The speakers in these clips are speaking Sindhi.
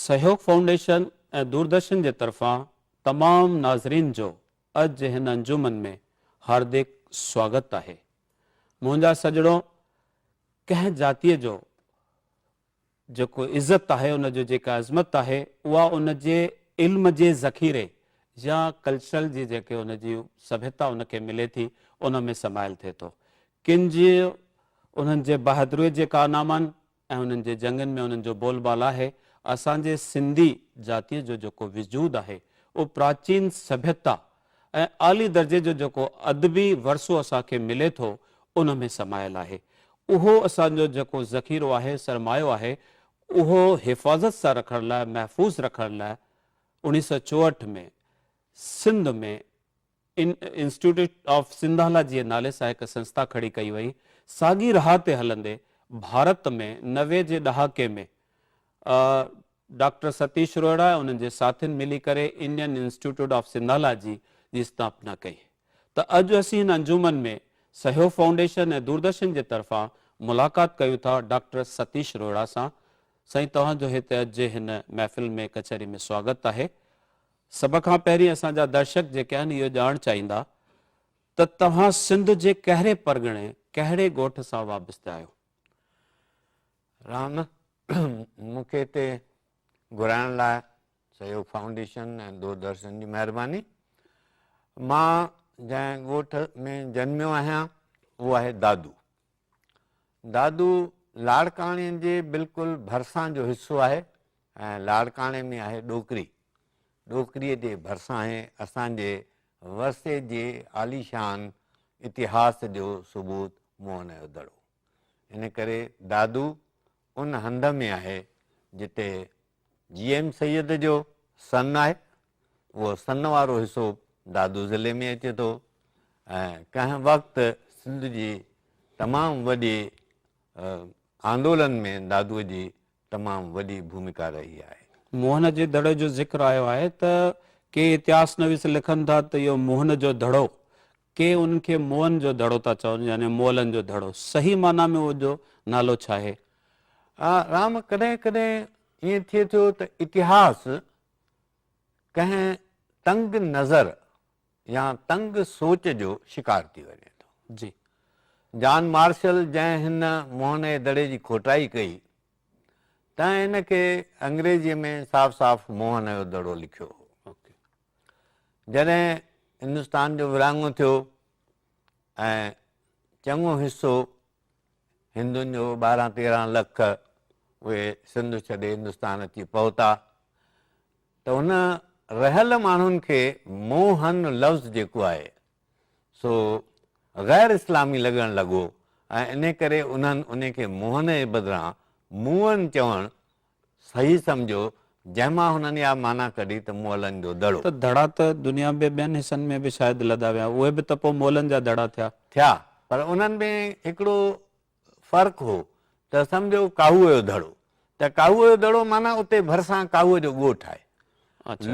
سهيوگ فائونڊيشن ۽ دوردرشن جي طرفان تمام ناظرين جو اڄ هن انجمن ۾ هاردڪ سواگت آهي. منهنجا سڄڻو ڪنهن جاتيء جو جيڪو عزت آهي ان جو جيڪا عظمت آهي اها ان جي علم جي ذخيري يا ڪلچرل جي جيڪي ان جي سڀيتا ان کي ملي ٿي ان ۾ سمايل ٿئي ٿو. ڪن جي انهن جي بهادريء جي ڪارنامن ۽ انهن جي جنگن ۾ انهن جو بول بال آهي. اسان جي سنڌي جاتيء جو جيڪو وجود آهي، اهو پراچين سڀيتا ۽ اعلي درجي جو جيڪو ادبي ورثو اسان کي ملي ٿو، ان ۾ سمايل آهي. اهو اسان جو جيڪو ذخيرو آهي، سرمايو آهي، اهو حفاظت سان رکڻ لاء، محفوظ رکڻ لاء انهيء سؤ چوهٺ ۾ سنڌ ۾ ان انسٽيٽيوٽ آف سنڌالا جي نالي سان هڪ سنسٿا کڙي ڪئي وئي. ساڳي راهه تي هلندي ڀارت ۾ نوي جي ڏهاڪي ۾ ڊاڪٽر ستيش روهيڙا ۽ انهن جي ساٿين ملي ڪري انڊين انسٽيٽيوٽ آف سنڌالا جي جي استاپنا ڪئي ته اڄ اسين هن انجمن ۾ سهيو فائونڊيشن ۽ دوردرشن جي طرفان ملاقات ڪيون ٿا ڊاڪٽر ستيش روهيڙا سان. سائين توهان جو هتي اڄ جي هن محفل ۾ ڪچهري ۾ سواگت آهي. سڀ کان پهرين اسان جا درشڪ جيڪي آهن اهو ڄاڻ چاهيندا ته توهان سنڌ جي ڪهري پرڳڻي ڪهڙي ڳوٺ سان وابسته آهيو؟ رام مون کي هتي گهرائڻ لاء سهيوگ فائونڊيشن ۽ دوردرشن جي مهرباني مان جنهن ڳوٺ ۾ جنميو آهيان اهو آهي دادو دادو لاڙڪاڻي جي بلڪل ڀرسان جو حصو آهي ۽ لاڙڪاڻي ۾ آهي ڏوڪري. ڏوڪري جي ڀرسان آهي اسان جي ورثي جي عاليشان اتهاس جو ثبوت موهن جو دڙو. ان ڪري دادو ان هنڌ ۾ آهي جتي جي ايم سيد جو سن آهي اهو سن وارو حصو دادو ضلعي ۾ اچي ٿو ۽ ڪنهن وقت سنڌ جي تمام وڏي آندولن ۾ دادو جي تمام وڏي ڀومڪا رهي آهي. موهن جي دڙي جو ذڪر آيو آهي ته ڪي اتهاس نويس لکن ٿا ته اهو موهن جو دڙو ڪي انهن کي موئن جو دڙو ٿا چون يعني مولن جو دڙو صحيح معنيٰ ۾ ان جو نالو ڇا آهي؟ آء رام، ڪڏهن ڪڏهن ائين ٿئي ٿو ته اتهاس ڪنهن تنگ نظر يا تنگ سوچ جو شڪار ٿي وڃي ٿو. جي. جان مارشل جنهن هن موئن جي دڙي جي کوٽائي ڪئي تنهن ان کي انگريزيء ۾ صاف صاف موئن جو دڙو لکيو هو. جڏهن هندستان جو ورهاڱو ٿيو ۽ چڱو حصو هندن جو ٻارهن تيرهن لک اهي سنڌ ڇڏي هندستان اچي پهتا ته ان رهيل ماڻهن کي موهن لفظ جيڪو آهي سو غير اسلامي لڳڻ لڳو ۽ ان ڪري انهن ان کي موهن جي بدران موئن چوڻ صحيح سمجهيو، جنهن مان هنن اها معنيٰ ڪڍي ته مئلن جو دڙو. ته دڙا ته دنيا بي ٻين حصن ۾ به شايد لڌا ويا، اهي به ته پوء مئلن جا دڙا ٿيا. ٿيا، پر انهن ۾ هڪڙو فرق هو ته سمجهو ڪاهوء جو دڙو، ته ڪاهوء جو دڙو معنيٰ اتي ڀرسان ڪاهوء جو ڳوٺ آهي.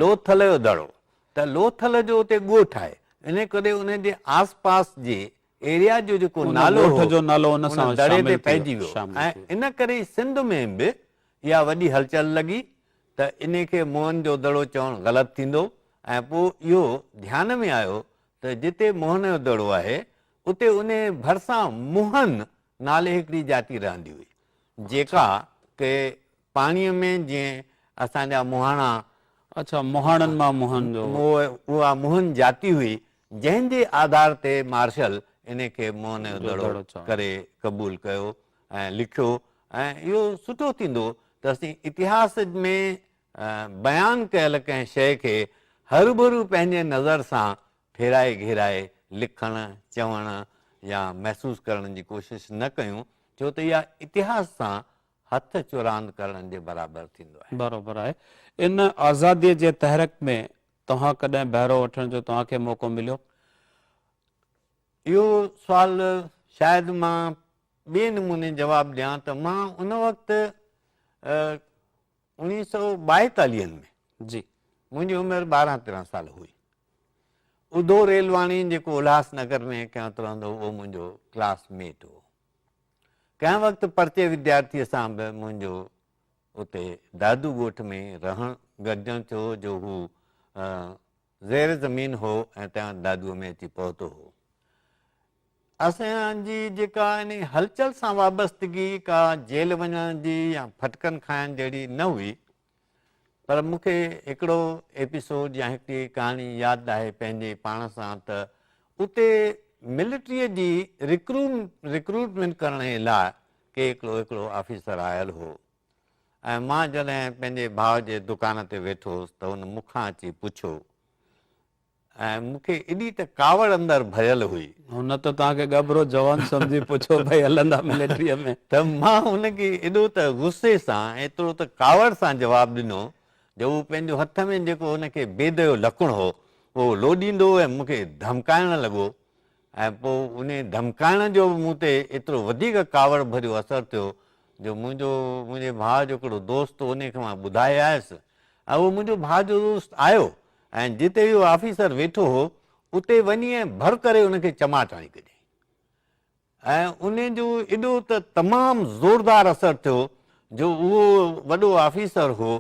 لوٿل جو دڙو، ته لوٿل جو اتي ڳوٺ آهي، انهيء ڪري انهيء جي آس پاس جي ايريا جو جيڪو نالو هو ان دڙي تي پئجي ويو ۽ ان ڪري سنڌ ۾ به اها وڏي هلچل لڳي ته انهي کي موهن جو دڙو چوڻ غلط ٿيندو ۽ پوء اهو ڌيان ۾ آيو ته جتي موهن جو دڙو آهي اتي انهي ڀرسان موهن نالي هڪڙي جاتي رهندي هئي جيڪا ڪي پاڻي ۾ جيئن اسان جا موهاڻا اها موهن جاتي هئي جنهن جي آڌار تي مارشل ان کي منهن جو دڙو ڪري قبول ڪيو ۽ لکيو ۽ اهو سٺو ٿيندو ته اسين اتهاس ۾ بيان ڪيل ڪنهن شيء کي هروڀرو پنهنجي نظر سان ڦيرائي گهيرائي لکڻ، چوڻ يا محسوس ڪرڻ جي ڪوشش نه ڪيون، ڇو ته اها اتهاس سان هٿ چراند ڪرڻ جي برابر ٿيندو آهي. برابر آهي. ان آزاديء جي تحرڪ ۾ توهان ڪڏهن بهرو وٺڻ جو توهان کي موقعو مليو؟ اهو سوال شايد مان ٻئي نموني جواب ڏيان ته مان ان وقت اوڻيهه سؤ ٻائيتاليهن ۾ جي منهنجي عمر ٻارهن تيرهن سال هئي ادو ريلواڻي جيڪو الهاس نگر ۾ ڪنهن وقت رهندو هو اهو منهنجو ڪلاس ميٽ هو ڪنهن وقت پرچي وديارٿي سان به منهنجو اتي دادو ڳوٺ ۾ رهڻ گڏجڻ ٿيو جو هو زير زمين هو ۽ تيان دادوء ۾ اچي پهتو هو. اسان جي جيڪا انهي هلچل سان وابستگي ڪا جيل وڃڻ جي يا ڦٽڪن کائڻ جهڙي نه هئي پر مون کي هڪڙو ايپيسوڊ يا هڪڙي ڪهاڻي ياد آهي پنهنجي پاڻ سان ته اتي ملٽريء جي رڪروٽمينٽ ڪرڻ جي لاء ڪي هڪڙو هڪڙو آفيسر آيل هو ۽ مان جڏهن پنهنجي ڀاء جي دڪان تي ويٺو هوس ته هن مون کان اچي پڇيو ۽ مون کي ايڏي ته ڪاوڙ اندر ڀريل هئي. هن ته توهان کي ڳڀرو جوان سمجهي پڇيو ڀئي هلندا ملٽريء ۾؟ ته مان هن کي ايڏو ته غصي سان ايترو ته ڪاوڙ سان جواب ڏنو جو هو پنهنجو هٿ ۾ جيڪو هن کي بيديو لڪڻ هو اهو لوڏيندو ۽ مون کي ڌمڪائڻ لڳو ۽ پوء انهي ڌمڪائڻ جو به مون تي ايترو وڌيڪ ڪاوڙ ڀريو اثر ٿيو جو منهنجو منهنجي ڀاء جو هڪڙو دوست انهي کي مان ٻڌائي آيس ۽ اهو منهنجو ڀاء جو دوست آيو ۽ جتي اهو آفيسر ويٺو هو اتي وڃي ۽ ڀر ڪري ان کي چماٽ هڻي ڪڍيائين ۽ انهي جو ايڏو ته تمام زوردار اثر ٿيو جو اهو وڏو آفيسر هو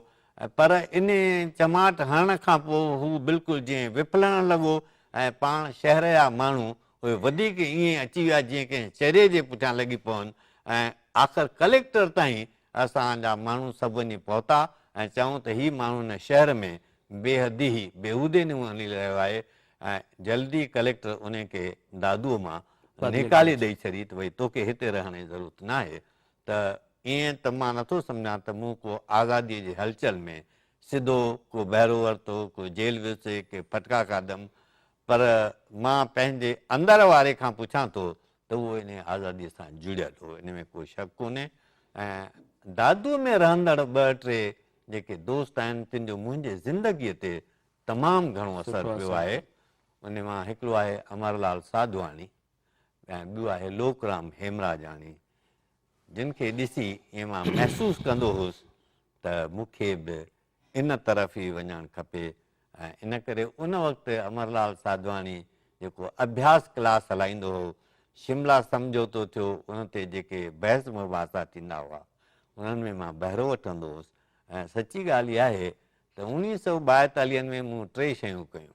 پر انهي چماٽ هڻڻ کان پوء هو بلڪل جئين وڦلڻ لڳو ۽ پاڻ شهر جا ماڻهو اهي وڌيڪ ائين اچي ويا جيئن ڪنهن چريي جي پٺيان لڳي پون ۽ آخر ڪليڪٽر تائين اسان جا ماڻهو سڀ وڃي پهتا ۽ چئون ته هي ماڻهو هن شهر ۾ بيحدي ئي بيهودي نموني هلي رهيو آهي ۽ جلدي ڪليڪٽر انهي کي دادوء مان نيڪالي ڏئي ڇڏي ته ڀئي توکي هتي رهڻ جي ضرورت ناهي ته ائين ته مان نٿو سمجهان ته مون ڪو آزاديء جي هلچل ۾ سڌو، ڪو بهرو ورتو، ڪو جيل ويوسي، ڪي ڦٽڪا کاڌم، پر مان پنهنجي اندر واري کان پڇان ٿو ته اهو انهيء آزاديء سان جڙيل هو، ان ۾ ڪو شڪ ڪونهي ۽ دادوء ۾ رهندڙ ٻه ٽي جيڪي دوست آهن، تن جو منهنجي زندگيء تي تمام گهڻو اثر پيو آهي، انهي مان هڪڙو آهي امرلال ساڌواڻي ۽ ٻيو آهي لوڪرام هيمراجاڻي. جن کي ڏسي ائين مان محسوس ڪندو هوس ته مون کي به ان طرف ئي وڃڻ کپي ۽ ان ڪري ان وقت امرلال ساڌواڻي جيڪو اڀياس ڪلاس هلائيندو هو، شملا سمجهوتو ٿيو ان تي جيڪي بحث مباحثا ٿيندا هئا انهن ۾ مان بهرو وٺندو هوس ۽ سچي ڳالهه اها آهي ته اوڻيهه سؤ ٻائيتاليهن ۾ مون ٽي شيون ڪيون.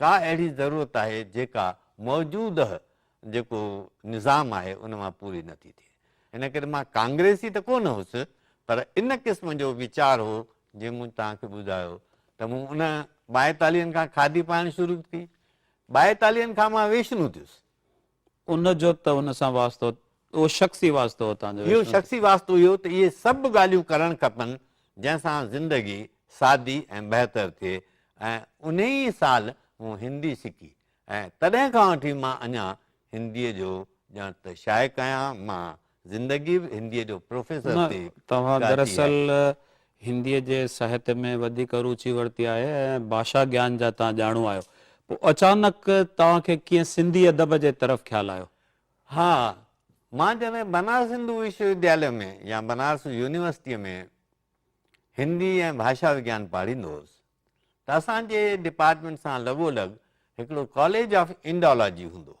ڪا اهڙي ضرورت آهي جيڪا موجوده جيڪو نظام آهي ان مان پوري نه ٿي ٿئي ان ڪري مان ڪانگريسي ته ڪونه هوس پر ان قسم جو ويچار هو جي مون توهان کي ٻڌايو ته مون ان ٻائيتاليهن کان کاڌي پائڻ شروع ڪئي ٻائيتاليهن کان مان ويشنو ٿيس ان جو ته ان سان واسطو اهو شخصي واسطو هو تنهنجو. اهو شخصي واسطو اهو ته اهي سڀ ڳالهيون ڪرڻ کپن جنهن سان زندگي سادي ۽ بهتر ٿئي ۽ انهي ئي سال مون هندي سکي ۽ تڏهن کان وٺي مان اڃان هنديء جو ڄڻ ته شائق آهيان مان زندگي به هنديء جو پروفيسر ٿي ڪاٽي آهي. نه، توهان دراصل هنديء جي ساهت ۾ وڌيڪ روچي ورتي آهي ۽ ڀاشا گيان جا توهان ڄاڻو آهيو. پوء اچانڪ توهان کي ڪيئن سنڌي ادب جي طرف خيال آيو؟ ها، مان جڏهن بنارس هندو وشو ودياليه ۾ يا بنارس يونيورسٽيء ۾ هندي ۽ ڀاشا وگيان پاڙهيندو هوس ته اسان جي ڊپارٽمينٽ سان لڳو لڳ هڪڙو ڪاليج آف انڊالاجي هوندو هو.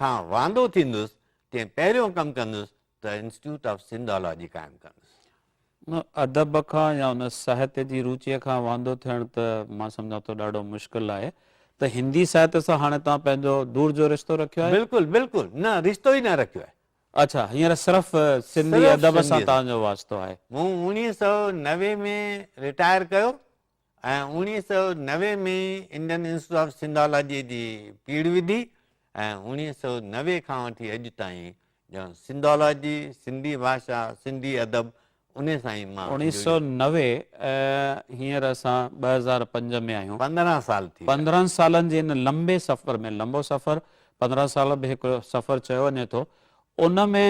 کان واندو ٿيندس تنهن پهريون ڪم ڪندس ته انسٽيٽيوٽ آف سنڌالاجي قائم ڪندس. ان ادب کان يا ان ساهتيه جي روچيء کان واندو ٿيڻ ته مان سمجهان ٿو ڏاڍو مشڪل آهي ته هندي ساهتيه سان هاڻي توهان پنهنجو دور جو رشتو رکيو آهي؟ بلڪل بلڪل نه رشتو ئي نه رکيو آهي. اڇا هينئر صرف سنڌي ادب سان توهان جو واسطو آهي. مون اوڻيهه سؤ نوي ۾ رٽائر ڪيو ۽ اوڻيهه سؤ نوي ۾ انڊين انسٽيٽيوٽ آف سنڌالاجيء جي پيڙهه وڌي ۽ اوڻيهه سؤ نوي کان وٺي اڄ تائين ڄڻ سنڌالاجي، سنڌي ڀاشا، سنڌي ادب انهي سان ئي مان اوڻيهه سؤ نوي هينئر اسان ٻه هزار پنج ۾ آهيون. پندرهن سال ٿي ويا. پندرهن سالن جي ان لنبي سفر ۾ لنبو سفر پندرهن سال به هڪ سفر چيو وڃي ٿو ان ۾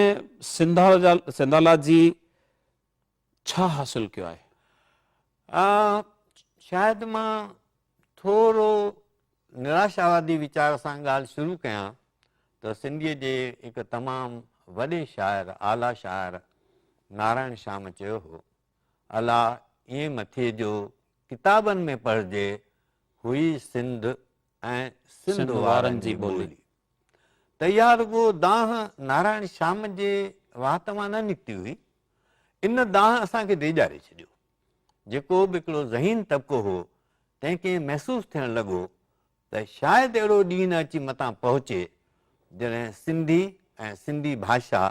سنڌالاجي ڇا حاصل ڪيو آهي؟ آء شايد مان ٿورو نراشاوادي ويچار سان ڳالهه شروع ڪيان ته سنڌيء جي هڪ تمام وڏي شاعر، اعليٰ شاعر نارائڻ شام چيو هو، الا ايئن مٿي جو ڪتابن ۾ پڙهجي هئي سنڌ ۽ سنڌ وارن جي ٻولي. ته اها رڳو دانهن نارائڻ شام جي وات مان نه نڪتي هئي. ان دانهن اسان کي ڊيڄاري ڇڏيو. جيڪو به هڪڙو ذهين طبقو هو، تنهن کي ائين محسوس ٿيڻ لڳو ته شايد اهڙو ڏينهن نه اچي متان پهچي، جڏهن سنڌي ۽ سنڌي ڀاشا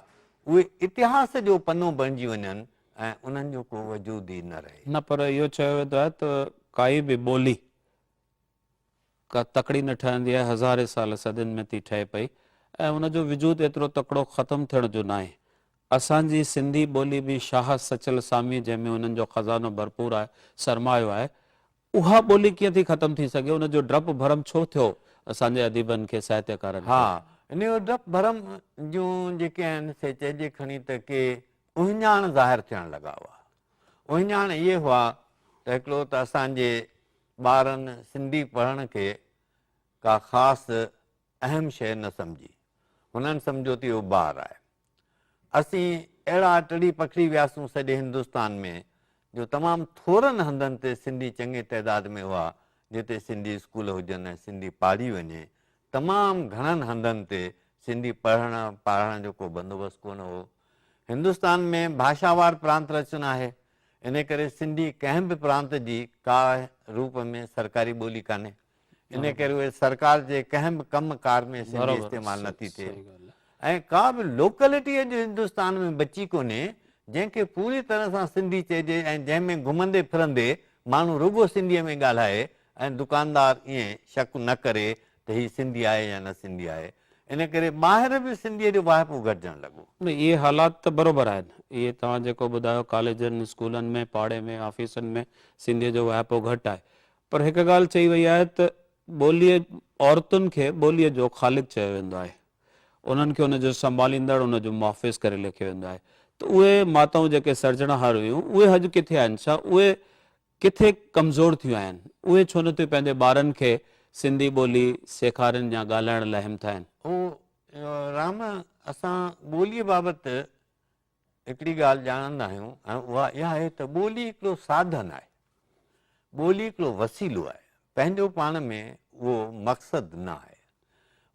اهي اتهاس جو پنو بڻجي وڃن ۽ انهن جو ڪو وجود ئي نه رهي. نه پر اهو چيو ويندو آهي ته ڪائي به ٻولي. ڪا تڪڙي نه ٺهندي آهي، هزارين سال صدين ۾ ٿي ٺهي پئي ۽ ان جو وجود ايترو تڪڙو ختم ٿيڻ جو ناهي. اسان جي سنڌي ٻولي به شاهه سچل ساميء جنهن ۾ هنن جو خزانو ڀرپور آهي، سرمايو آهي، اها ٻولي ڪيئن ٿي ختم ٿي سگهي، ان جو ڊپ ڀرم ڇو ٿيو اسان جي اديبن کي، ساهتيڪارن کي؟ ها، ان جو ڊپ ڀرم جون جيڪي آهن سي چئجي کڻي ته ڪي اهڃاڻ ظاهر ٿيڻ لڳا هئا. اهڃاڻ اهي هئا ته هڪڙو ته اسان جي ٻارن سنڌي پڙهڻ کي ڪا خاص اهم شيء نه سمجهي. هنن سمجهيو ته اهو بار آهي. اسين اهڙا ٽڙي پکڙي وياسون سڄي هندستان ۾ جو تمام ٿورن هنڌن تي سنڌي چڱي تعداد ۾ هئا جتي سنڌي اسڪول هجن ۽ سنڌي پاڙهي وڃي تمام گهڻن هنڌن تي سنڌي پڙهڻ پاڙهڻ جو ڪو بندوبست ڪونه هو. هندستان ۾ ڀاشاوار پرانت رچن آهي، انهي ڪري سنڌي ڪنهن به پرانت جي ڪا روپ ۾ سرڪاري ٻولي ڪانهي. انهي ڪري اهي سرڪار جي ڪنهن به ڪم ڪار ۾ سنڌي استعمال نٿي ٿئي. ۽ ڪا به لوڪلٽي اڄ هندستان ۾ بچي ڪونهي جنهن کي پوري طرح سان سنڌي چئجي ۽ جنهن ۾ گهمندي ڦرندي ماڻهو رڳو سنڌيء ۾ ڳالهائي ۽ دڪاندار ائين شڪ نه ڪري ته هي سنڌي آهي يا نه سنڌي آهي ان ڪري ٻاهر به سنڌيء جو واهپو گهٽجڻ لڳو. نه اهي حالات ته برابر آهن اهي توهان جيڪو ٻڌايو ڪاليجن اسڪولن ۾ پاڙي ۾ آفيسن ۾ سنڌيء جو واهپو گهٽ آهي پر هڪ ڳالهه چئي وئي آهي ته ٻوليء عورتن کي ٻوليء جو خالق چيو ويندو آهي انهن کي ان جو سنڀاليندڙ، ان جو محافظ ڪري ليکيو ويندو آهي ته اهي ماتائون جيڪي سرجڻهار هيون، اهي اڄ ڪٿي آهن؟ ڇا اهي ڪٿي ڪمزور ٿيون آهن؟ اهي ڇو نه ٿيون پنهنجي ٻارن کي سنڌي ٻولي سيکارين يا ڳالهائڻ لاء همٿائين؟ او رام! اسان ٻوليء بابت هڪڙي ڳالهه ڄاڻندا آهيون ۽ اها اها آهي ته ٻولي هڪڙو ساڌن آهي، ٻولي هڪڙو وسيلو آهي، پنهنجو پاڻ ۾ اهو مقصد نه آهي.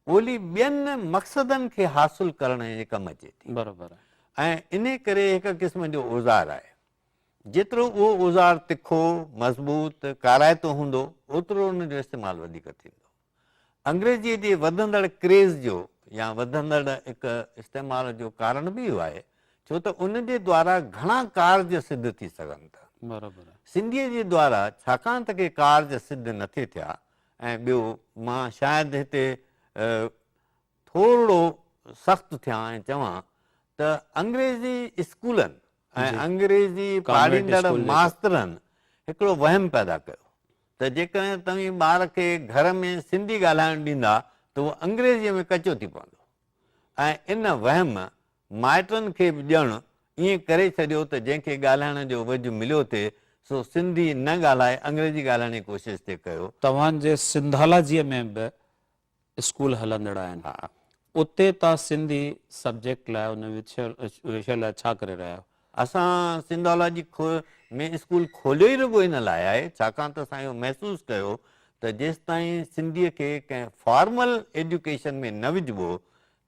ٻولي ٻين مقصدن کي حاصل ڪرڻ جي ڪم اچي ٿي ۽ انهي ڪري هڪ قسم جو اوزار آهي. جيترو اهو اوزار تکو، مضبوط، ڪارائتو هوندو، اوترو ان جو استعمال وڌيڪ ٿيندو. انگريزيء جي وڌندڙ ڪريز جو يا وڌندڙ اڪ استعمال جو ڪارڻ به اهو آهي، ڇو ته ان جي دوارا گهڻا ڪارج سڌ ٿي سگهن ٿا. سنڌيء جي دوارا ڇاڪاڻ ته ڪي ڪارج سڌ نه ٿي ٿيا ۽ ٻيو مان شايد هتي ٿورڙو سخت ٿيان ۽ چوان ته انگريزي اسڪولن ۽ انگريزي پاڙهيندڙ ماسترن هڪڙو وهم پيدا ڪيو. ته جيڪڏهن توهين ٻار کي گهر ۾ سنڌي ڳالهائڻ ڏيندا ته هو انگريزيء ۾ ڪچو ٿي پوندو ۽ ان وهم مائٽن کي به ڄڻ ائين ڪري ڇڏيو ته جنهن کي ڳالهائڻ جو وجهه مليو ٿئي سو سنڌي نه ڳالهائي انگريزي ڳالهائڻ جي ڪوشش ٿي ڪيو. توهان جي سنڌالاجيء ۾ به اسڪول هلندڙ آهن اتي تان سنڌي سبجيڪٽ لاء ان وشي لاء ڇا ڪري رهيا آهيو؟ اسان سنڌالاجي ۾ اسڪول کوليو ئي رڳو ان لاء آهي ڇاڪاڻ ته اسان اهو محسوس ڪيو ته جيستائين سنڌي کي ڪنهن فارمل ايڊيوڪيشن ۾ نه وجهبو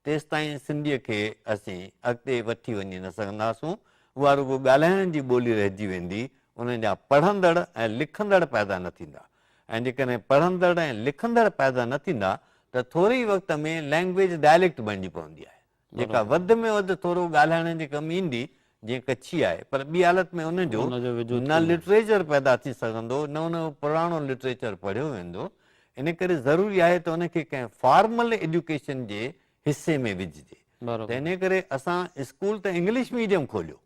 تيستائين سنڌيء کي اسين اڳتي وٺي وڃي نه سگهنداسون، اها رڳو ڳالهائڻ جي ٻولي رهجي ويندي، ان جا پڙهندڙ ۽ لکندڙ پيدا نه ٿيندا ۽ جيڪڏهن پڙهندڙ ۽ لکندڙ پيدا نه ٿيندا ته ٿوري ئي وقت ۾ لئنگويج ڊائليڪٽ بڻجي پوندي آهي، جيڪا وڌ ۾ وڌ ٿورو ڳالهائڻ جي ڪم ايندي جيئن ڪڇي آهي، پر ٻي حالت ۾ ان جو نه لٽريچر پيدا ٿي سگهندو، نه ان جو پراڻو لٽريچر پڙهيو ويندو، ان ڪري ضروري آهي ته ان کي ڪنهن فارمل ايڊيوڪيشن جي حصي ۾ وجهجي. ته ان ڪري اسان اسڪول ته انگلش ميڊيم کوليو،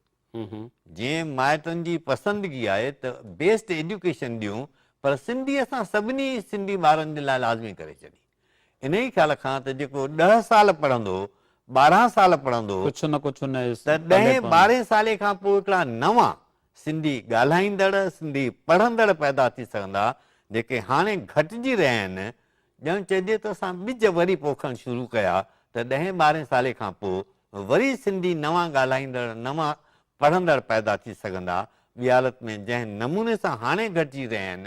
جيئن مائٽن جي پسندگي آهي ته بيسٽ ايڊيوڪيشن ڏيون، پر سنڌي اسان سڀني سنڌي ٻارن جي لاء لازمي ڪري ڇڏي. انهيء خيال کان ته جيڪو ڏهه سال پڙهندو، ٻارهن سال پڙهندو، ڪجهه نه ڪجهه ان جي ته پلي ڏهين پوندو. ٻارهين سالي کان پوء هڪڙا نوان سنڌي ڳالهائيندڙ، سنڌي پڙهندڙ پيدا ٿي سگهندا، جيڪي هاڻي گهٽجي رهيا آهن. ڄڻ چئجي ته اسان ٻج وري پوکڻ شروع ڪيا ته ڏهين ٻارهين سالي کان پوء وري سنڌي نوان ڳالهائيندڙ، نوان پڙهندڙ پيدا ٿي سگهندا. ٻيالت ۾ جنهن نموني سان هاڻي گهٽجي رهيا آهن،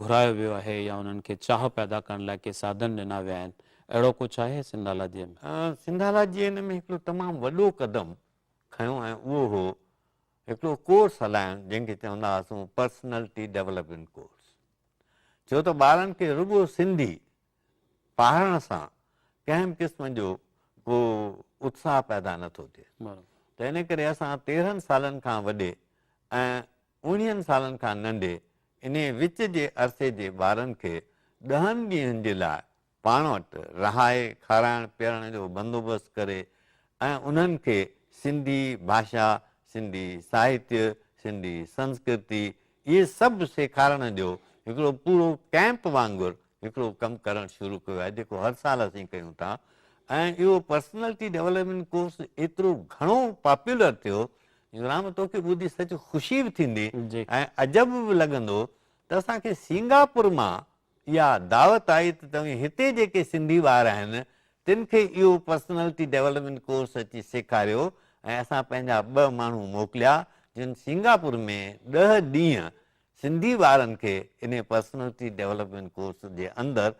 گهرايو ويو آهي يا انهن کي چاهه پيدا ڪرڻ لاء ڪي ساڌن ڏنا ويا آهن اهڙو ڪجهه آهي سنڌالاجيء ۾؟ سنڌالاجيء ان ۾ هڪڙو تمام وڏو قدم کنيو ۽ اهو هو هڪڙو ڪورس هلائڻ جنهن کي چوندا هئاسون پرسنلٽي ڊيولپمينٽ ڪورس ڇو ته ٻارن کي رڳو سنڌي پاڙهڻ سان ڪنهن به قسم جو ڪو اتساهه پيدا نه ٿو ٿئي ته ان ڪري اسان تيرهن سالن کان وڏي ۽ اوڻيهن سالن کان ننڍي انهي وچ جي عرصي جي ٻارن کي ڏهن ڏينهن جي لاء پاڻ وٽ رهائي کارائڻ پيارڻ جو بندوبست ڪري ۽ انهن کي سنڌي ڀاشا، سنڌي ساهتيه، سنڌي سنسڪرتي اهي سڀ سيکارڻ جو هڪڙو پورو ڪئمپ وانگر هڪڙو ڪم ڪرڻ شروع ڪيو آهي جيڪو هر سال اسين ڪيون ٿا ۽ اهو پرسنالٽي ڊيولپمينٽ ڪورس ايترو گهڻو پاپولر ٿيو جو رام توکي ٻڌي سچ خوشي به ٿيندي ۽ عجب به لڳندو ته اسان کي سينگاپور مان اها دعوت آئي ته توهين هتي جيڪي سنڌي ٻار آهن تن کي اهو پرسنالٽي ڊيولپمينٽ ڪورس اچي سيکاريو ۽ اسان پنهنجا ٻه ماڻهو موڪليا جن سينگاپور ۾ ڏهه ڏينهن سنڌي ٻارن کي انهي پرسنلٽي ڊيولپمينٽ ڪورس جي اندر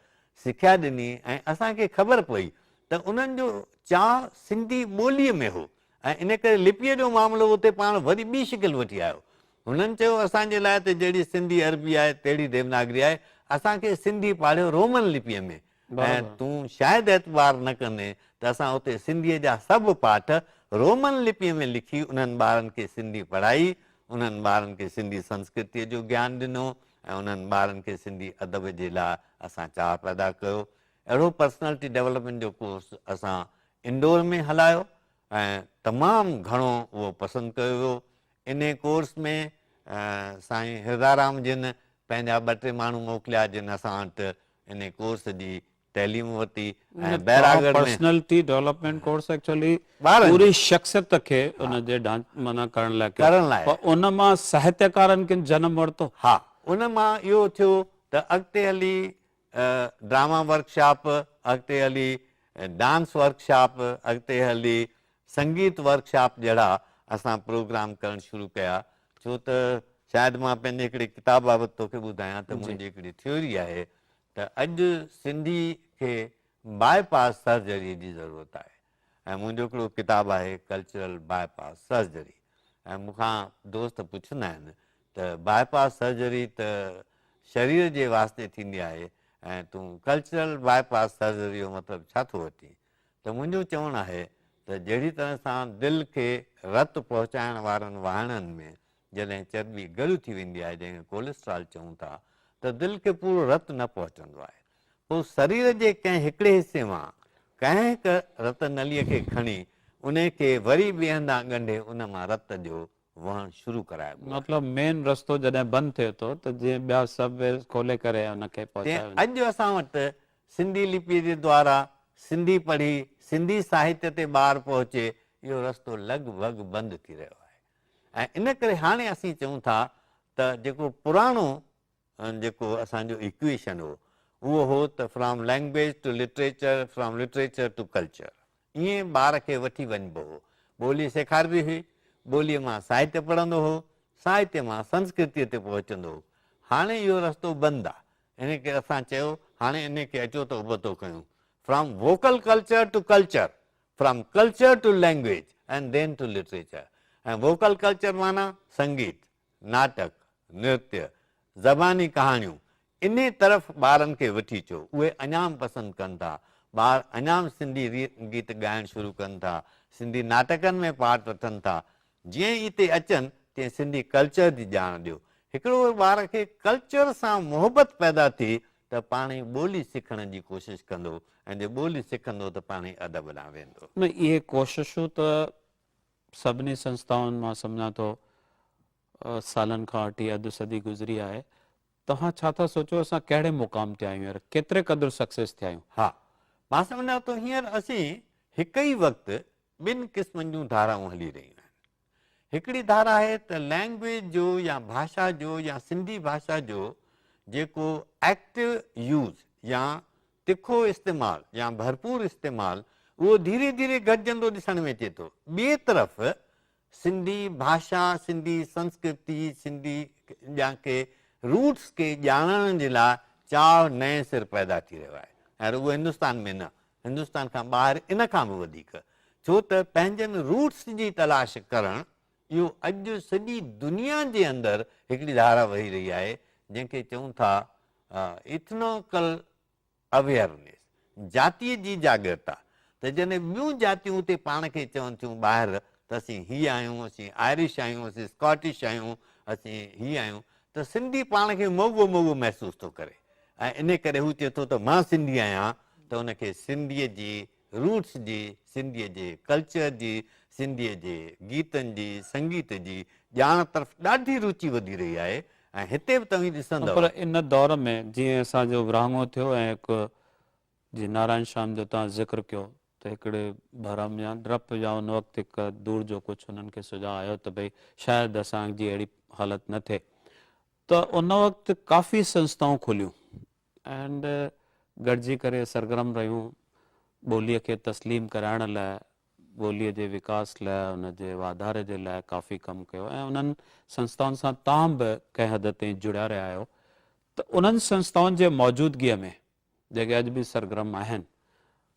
سکيا ڏني ۽ اسان کي خبر پئي ته انهن جو چاهه سنڌي ٻوليء ۾ هو ۽ ان ڪري لپيء جو معاملو اتي پاڻ وري ٻي شڪل وٺي آيو. هنن چيو اسان جي لاء ته جهڙي سنڌي عربي آهي تهڙي ديوناگري آهي، اسان کي سنڌي پاڙهيو رومن لپيء ۾، ۽ تون شايد اعتبار نه ڪندين ته اسان اتي سنڌيء جا سڀ پاٺ رومن لپيء ۾ لکي انهن ٻارن کي سنڌي پڙهائي، انهن ٻارن کي سنڌي سنسڪرتيء جو گيان ڏنو ۽ انهن ٻارن کي سنڌي ادب جي لاء اسان چاهه پيدا ڪيو. اهڙو پرسنالٽي ڊيولپمينٽ جو ڪورس اسان انڊور ۾ هلايو ۽ تمام گهڻو اهو پسند ڪيو ويو. انهي ڪورس ۾ سائين هردارام جن پنهنجا ٻه ٽي ماڻهو موڪليا جن اسان وٽ انهي ڪورس جي تعليم ورتي ۽ بهراڳڙهه ۾ پرسنلٽي ڊولپمينٽ ڪورس ايڪچولي پوري شخصيت کي ان جي ڍانچي ڪرڻ لاء ڪيو پر ان مان ساهتيڪارن ڪن جنم ورتو ها ان مان اهو ٿيو ته اڳتي هلي ڊراما ورڪشاپ اڳتي هلي ڊانس ورڪشاپ اڳتي هلي سنگيت ورڪشاپ جهڙا اسان پروگرام ڪرڻ شروع ڪيا ڇو ته شايد مان پنهنجي هڪڙي ڪتاب بابت توکي ٻڌايان ته منهنجي هڪڙي ٿيوري آهي ته اڄ سنڌي کي باء پاس سرجري جي ضرورت آهي ۽ منهنجو هڪڙو ڪتاب آهي ڪلچرل باء پاس سرجري ۽ مون کان دوست پڇندا آهن ته باء پاس سرجري ته شرير جي واسطي ٿيندي آهي ۽ تون ڪلچرل باء پاس سرجري جو مطلب ڇا ٿو وٺين ته منهنجو چوڻ آهي ته جهڙي طرح سان دل کي رت پهچائڻ وارن واهڻن ۾ جڏهن چرٻي ڳڙ ٿي ويندي آهي جنهن کي ڪوليسٽرال چئون ٿا ته دل کي پورو رت نه پهچندو آهي پوء سرير جي ڪنهن هڪڙي حصي مان ڪنهن هڪ رت نليء کي کڻي انهي کي وري ٻئي هنڌان ڳنڍي ان مان رت جو وهڻ شروع ڪرائبو آهي. مطلب مين رستو جڏهن بند ٿئي ٿو ته جيئن ٻيا سب ويز کولي ڪري ان کي پهچايو وڃي. تيئن اڄ اسان وٽ سنڌي لپيء جي دوارا سنڌي پڙهي سنڌي ساهتيه تي ٻار پهچي اهو رستو لڳ ڀڳ بند ٿي رهيو آهي ۽ ان ڪري هاڻي اسين چئون ٿا ته جيڪو پراڻو ۽ جيڪو اسان جو ايڪويشن هو اهو هو ته from language to literature, from literature to culture. ائين ٻار کي وٺي وڃبو هو. ٻولي سيکاربي هئي، ٻوليء مان ساهتيه پڙهندو هو، ساهتيه مان سنسڪرتيء تي پهچندو هو. هاڻي اهو رستو بند آ. ان ڪري اسان چيو هاڻي انهي کي اچو ته ابتو ڪيون. From vocal culture to culture, from culture to language ۽ ڌين ٽو لٽريچر. ۽ ووڪل ڪلچر معنيٰ سنگيت. ناٽڪ، نرتيه، زباني ڪهاڻيون، انهي طرف ٻارن کي وٺي چو، اهي اڃام پسند ڪن ٿا، ٻار اڃام سنڌي گيت ڳائڻ شروع ڪن ٿا، سنڌي ناٽڪن ۾ پارٽ وٺن ٿا، جئين هتي اچن تئين سنڌي ڪلچر جي ڄاڻ ڏيو، هڪڙو ٻار کي ڪلچر سان محبت پيدا ٿي ته پاڻهي ٻولي سکڻ جي ڪوشش ڪندو ۽ جي ٻولي سکندو ته پاڻهي ادب ڏانهن ويندو. نه اهي ڪوششون ته سڀني سنسٿائن مان سمجهان ٿو سالن کان وٺي اڌ صدي گذري آهي توهان ڇا ٿا سوچو اسان ڪهڙي مقام تي آهيون هينئر ڪيتري قدر سڪسيس ٿيا آهيون ها مان سمجهان ٿو هينئر اسين هڪ ئي وقت ٻن قسمن جون ڌارائون هلي رهيون آهن هڪڙي ڌارا آهي ته لينگويج جو يا ڀاشا جو يا سنڌي ڀاشا جو جيڪو ايڪٽو يوز يا تکو استعمال يا ڀرپور استعمال اهو ڌيري ڌيري گهٽجندو ڏسڻ ۾ اچي ٿو. ٻئي طرف سنڌي ڀاشا، سنڌي سنسڪرتي، سنڌي جا ڪي روٽس کي ڄاڻڻ جي لاء چاء نئين سر پيدا ٿي رهيو آهي ۽ رڳو هندستان ۾ نه هندستان کان ٻاهر ان کان به وڌيڪ ڇو ته پنهنجن روٽس جي تلاش ڪرڻ اهو اڄ سڄي دنيا جي اندر هڪڙي ڌارا وهي رهي آهي جنهن کي چئون ٿا اٿنوڪل اويئرنيس جاتي جي جاڳرتا ته جڏهن ٻيون جاتيون اتي پاڻ کي چون ٿيون ٻاهر ته اسين هي آهيون اسين آئرش آهيون اسين اسڪاٽش آهيون اسين هي آهيون ته سنڌي پاڻ کي موڳو موڳو محسوس ٿو ڪري ۽ ان ڪري هو چئي ٿو ته مان سنڌي آهيان ته ان کي سنڌيء جي روٽس جي سنڌيء جي، ڪلچر جي سنڌيء جي، گيتن جي، سنگيت جي ڄاڻ طرف ڏاڍي روچي وڌي رهي آهي ۽ هتي به توهين ڏسندؤ. پر ان دور ۾ جيئن اسان جو ورهاڱو ٿيو ۽ هڪ جي نارائڻ شيام جو توهان ذڪر ڪيو ته هڪڙي ڀرم يا ڊپ يا ان وقت هڪ دور جو ڪجهه انهن کي سجهاء آيو ته ڀئي شايد اسان جي اهڙي حالت نه ٿئي ته ان وقت ڪافي سنسٿائون کليون اينڊ گڏجي ڪري سرگرم رهيون ٻوليء کي تسليم ڪرائڻ لاء ٻوليء جي وڪاس لاء ان جي واڌاري جي لاء ڪافي ڪم ڪيو ۽ انهن سنستائن سان توهان به ڪنهن حد تائين جڙيا رهيا آهيو ته انهن سنستائن جي موجودگيء ۾ جيڪي اڄ به سرگرم آهن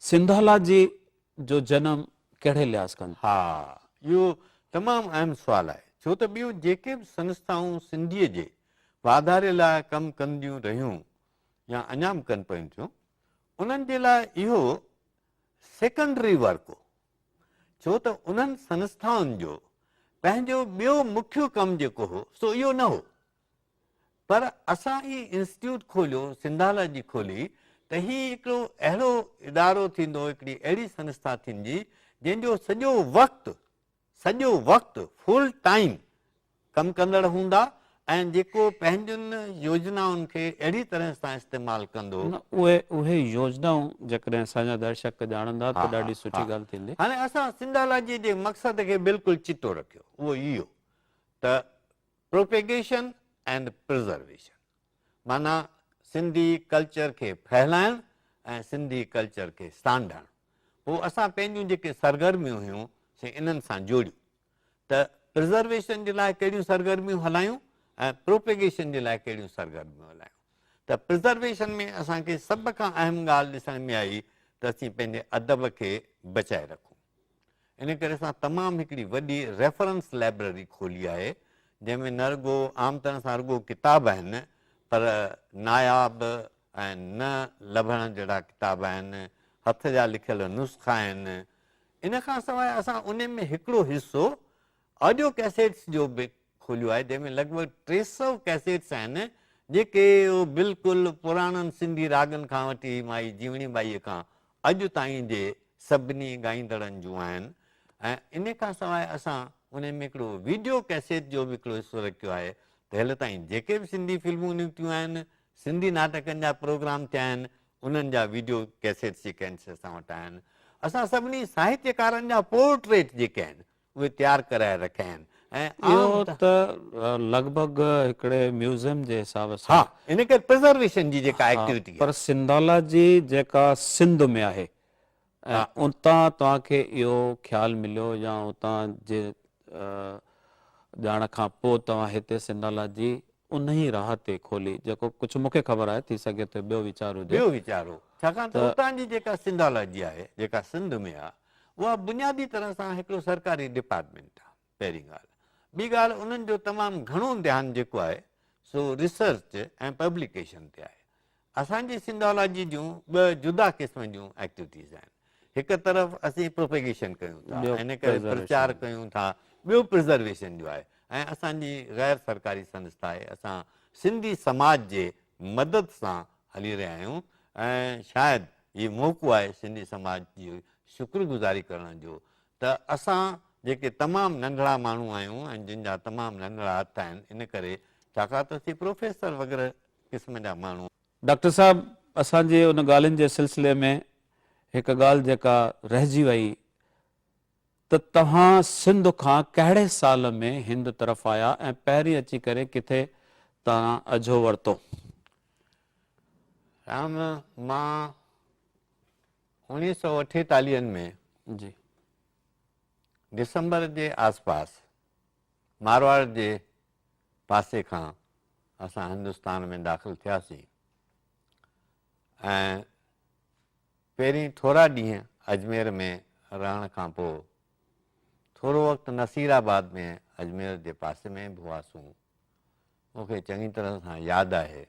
سنڌالاجي جو جنم ڪهڙي لحاظ کان ها اهو تمام اهم سوال آهي ڇو ته ٻيون جيڪي به سنستائون سنڌيء جي واڌاري لاء ڪم ڪنديون رهيون يا اڃا به ڪن پيون ٿيون انهن جي لاء اهو سيڪنڊري ورڪ هو ڇو ته انهن سنسٿائن جو پنهنجو ٻيو مکيو ڪم جيڪو هو سو اهو نه هو پر اسان هي انسٽيٽيوٽ کوليو سنڌالاجي کولي ته هي هڪڙو اهڙو ادارو ٿيندو هڪڙي اهڙي سنسٿا ٿيندي جنهن جو سڄو وقت سڄو وقت فل ٽائيم ڪم ڪندڙ هوندا ۽ جيڪو پنهنجن يوجنائن کي اهڙي طرح سان استعمال ڪندو. نه اهي اهي يوجنائون جيڪڏهن اسان جا درشڪ ڄاڻندا ته ڏاڍي سٺي ڳالهه ٿيندي. هاڻي اسان سنڌالاجيء جي مقصد کي بلڪل چٽو رکيو اهو اهو ته پروپيگيشن اينڊ پرزرويشن. معنيٰ سنڌي ڪلچر کي ڦهلائڻ ۽ سنڌي ڪلچر کي سانڍڻ. پوء اسان پنهنجون جيڪي سرگرميون هيون سي انهن سان جوڙيون ته پرزرويشن جي لاء ڪهڙيون سرگرميون هلايون ۽ پروپيگيشن جي لاء ڪهڙيون سرگرميون هلايون ته پرزرويشن ۾ اسان کي سڀ کان اهم ڳالهه ڏسڻ ۾ آئي ته اسين پنهنجي ادب کي بچائي رکون. ان ڪري اسان تمام هڪڙي وڏي ريفرنس لائبرري کولي آهي جنهن ۾ نه رڳو عام طرح سان رڳو ڪتاب آهن پر ناياب ۽ نه لڀڻ جهڙا ڪتاب آهن هٿ جا لکيل نسخا آهن ان کان سواء اسان ان ۾ هڪڙو حصو آڊيو ڪيسيٽس جو به کوليو آهي جنهن ۾ لڳ ڀڳ ٽي سؤ ڪيسيٽس آهن جيڪي بلڪل پراڻن سنڌي راڳن کان وٺي مائي جيوڻي ٻائي کان اڄ تائين جي سڀني ڳائيندڙن جون آهن ۽ ان کان سواء اسان انهن ۾ هڪڙو ويڊيو ڪيسيٽ جو به هڪڙو حصو رکيو آهي ته هل تائين جيڪي به سنڌي فلمون نڪتيون آهن سنڌي ناٽڪن جا پروگرام ٿيا آهن انهن جا ويڊيو ڪيسيٽس جيڪي آهن سي اسان وٽ آهن اسان سڀني ساهتيڪارن جا پورٽريٽ جيڪي آهن اهي تيار ڪرائي رکيا آهن ۽ اهو ته لڳ ڀڳ هڪڙي ميوزيم جي حساب سان ها ان ڪري پرزرويشن جي جيڪا ايڪٽيوٽي آهي پر سنڌالاجي جيڪا سنڌ ۾ آهي ۽ اتان توهان کي اهو خيال مليو يا اتان جي ڄاڻ کان پوء توهان هتي سنڌالاجي انهي راهه تي کولي جيڪو ڪجهه مون کي خبر آهي ٿي سگهي ٿو ٻيو ويچار هجي ٻيو ويچار هو ڇاڪاڻ ته اتان جي جيڪا سنڌالاجي آهي جيڪا سنڌ ۾ آهي اها بنيادي طرح سان هڪڙو سرڪاري ڊپارٽمينٽ آهي پهرين ڳالهه. ٻي ڳالهه انهن جو تمام گهڻو ڌيان جيڪو آهي سو ريسرچ ۽ پبليڪيشن تي آهي. اسان جي سنڌالاجي جون ٻه جدا قسم جون ايڪٽويٽيز آهن. هڪ طرف اسين پروپيگيشن ڪيون ٿا ان ڪري پرچار ڪيون ٿا ٻيو پرزرويشن جو آهي ۽ اسان جي غير سرڪاري سنسٿا آهي اسان سنڌي سماج جي مدد سان هلي رهيا آهيون ۽ شايد هي موقعو آهي سنڌي سماج جي شڪر گذاري ڪرڻ جو ته اسان جيڪي تمام ننڍڙا ماڻهو آهيون ۽ جن جا تمام ننڍڙا هٿ آهن ان ڪري ڇاڪاڻ ته اسين پروفيسر وغيره قسم جا ماڻهو ڊاڪٽر صاحب اسان جي ان ڳالهين جي سلسلي ۾ هڪ ڳالهه جيڪا رهجي وئي ته توهان سنڌ کان ڪهڙي سال ۾ هند طرف آيا ۽ پهرين اچي ڪري ڪٿي تان اجهو ورتو؟ رام، مان اوڻيهه سؤ اٺيتاليهن ۾ جي. ڊسمبر جي آس پاس مارواڙ جي پاسي کان اسان هندستان ۾ داخل ٿياسين ۽ پهرين ٿورا ڏينهن اجمير ۾ رهڻ کان پوء ٿورو وقت نصير آباد ۾ اجمير جي پاسي ۾ به هئاسون. مون کي چڱي طرح سان ياد آهي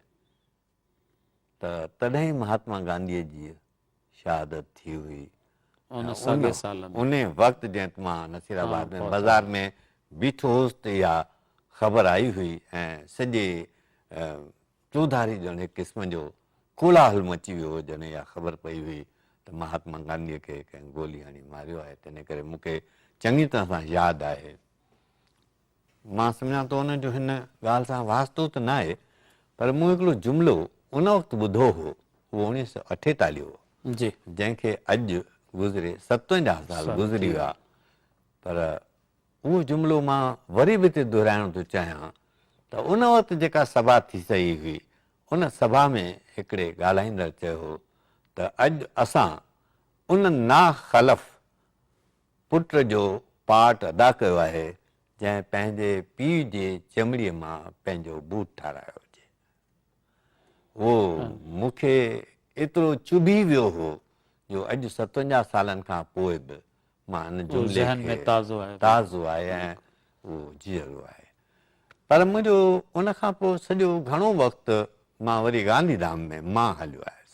ته تڏهن ئي مهاتما گانڌيء جي شهادت ٿي هئي ۽ ان وقت جئت مان نصير آباد ۾ بازار ۾ بيٺو هوس ته اها خبر آئي هئي ۽ سڄي چوڌاري ڄڻ هڪ قسم جو ڪولاهل مچي ويو هو، جڏهن اها خبر پئي هئي ته مهاتما گانڌيء کي ڪنهن گولي هڻي ماريو آهي، تنهن ڪري مون کي چڱي طرح سان ياد آهي. مان سمجهان ٿو ان جو هن ڳالهه سان واسطو ته ناهي، پر مون هڪڙو جملو ان وقت ٻڌو هو، اهو اوڻيهه سؤ اٺيتاليهه هو، جنهن کي اڄ گذري ستونجاهه سال گذري ويا، پر اهو جملو مان وري به هتي دهرائڻ ٿو چاهيان ته ان وقت جيڪا سڀا ٿي سهي هئي، ان سڀا ۾ هڪڙي ڳالهائيندڙ چيو هو ته اڄ اسان ان نا خلف پٽ جو پارٽ ادا ڪيو آهي جنهن پنهنجي پيء جي چمڙي مان پنهنجو بوٽ ٺارايو هجي. اهو مون کي ايترو چڀي ويو هو جو اڄ ستونجاهه سالن کان پوء به مان ان جملي کي تازو آهي ۽ اهو جيئرو آهي. پر منهنجو ان کان پوء سڄو گهڻو وقت مان وري گانڌي ڌام ۾ مان هليو آيس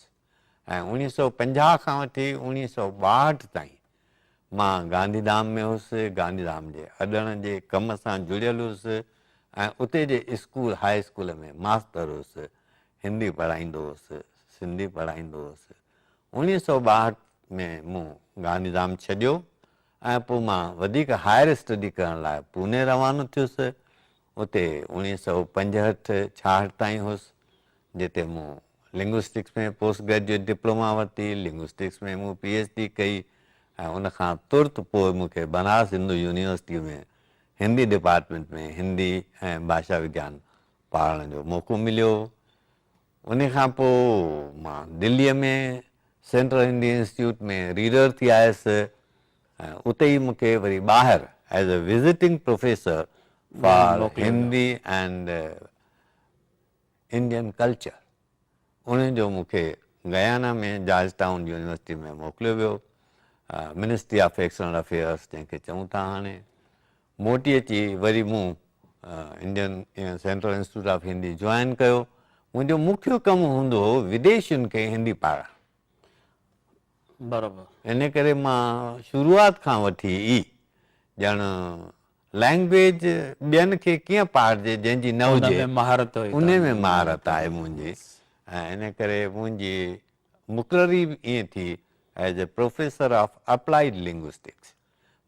۽ اوڻيهه سؤ پنجاهه کان وٺي اوڻيهه سؤ ٻاهٺ تائين مان گانڌي ڌام ۾ هوس، گانڌي ڌام جي اڏڻ جي ڪم سان جڙيل هوس ۽ اتي جي اسڪول هاء اسڪول ۾ ماستر هوس، هندي پڙهائيندو هوس، سنڌي پڙهائيندو هوس، انيس سؤ ٻاهٺ ۾ مون گانڌيڌام ڇڏيو ۽ پوء مان وڌيڪ هائر اسٽڊي ڪرڻ لاء پوني روانو ٿيس. اتي انيس سؤ پنجهٺ ڇاهٺ تائين هوس، جتي مون لنگوسٽڪس ۾ پوسٽ گريجوئيٽ ڊپلوما ورتي. لنگوسٽڪس ۾ مون پي ايڇ ڊي ڪئي ۽ ان کان ترت پوء مون کي بنارس هندو يونيورسٽيء ۾ هندي ڊپارٽمينٽ ۾ هندي ۽ ڀاشا وگيان پڙهائڻ جو موقعو مليو. انهي کان پوء مان دليء ۾ سينٽرل انڊين انسٽيٽيوٽ ۾ ريڊر ٿي آيس ۽ اتي ئي مون کي وري ٻاهر as a visiting professor for Hindi and Indian culture ان جو مون کي گيانا ۾ جارج ٽائون يونيورسٽي ۾ موڪليو ويو منسٽري آف ايڪسٽرنل افيئرس جنهن کي چئون ٿا هاڻي موٽي اچي وري مون Indian central institute of Hindi join ڪيو. منهنجو مکيه ڪم هوندو هو وديشين کي هندي پاڙهڻ. برابر. ان ڪري مان شروعات کان وٺي ئي ڄڻ لئنگويج ٻين کي ڪيئن پاڙهجي جنهن جي نه هجي. ان ۾ مهارت هئي. ان ۾ مهارت آهي منهنجي. ۽ ان ڪري منهنجي مقرري به ائين ٿي as a professor of applied linguistics.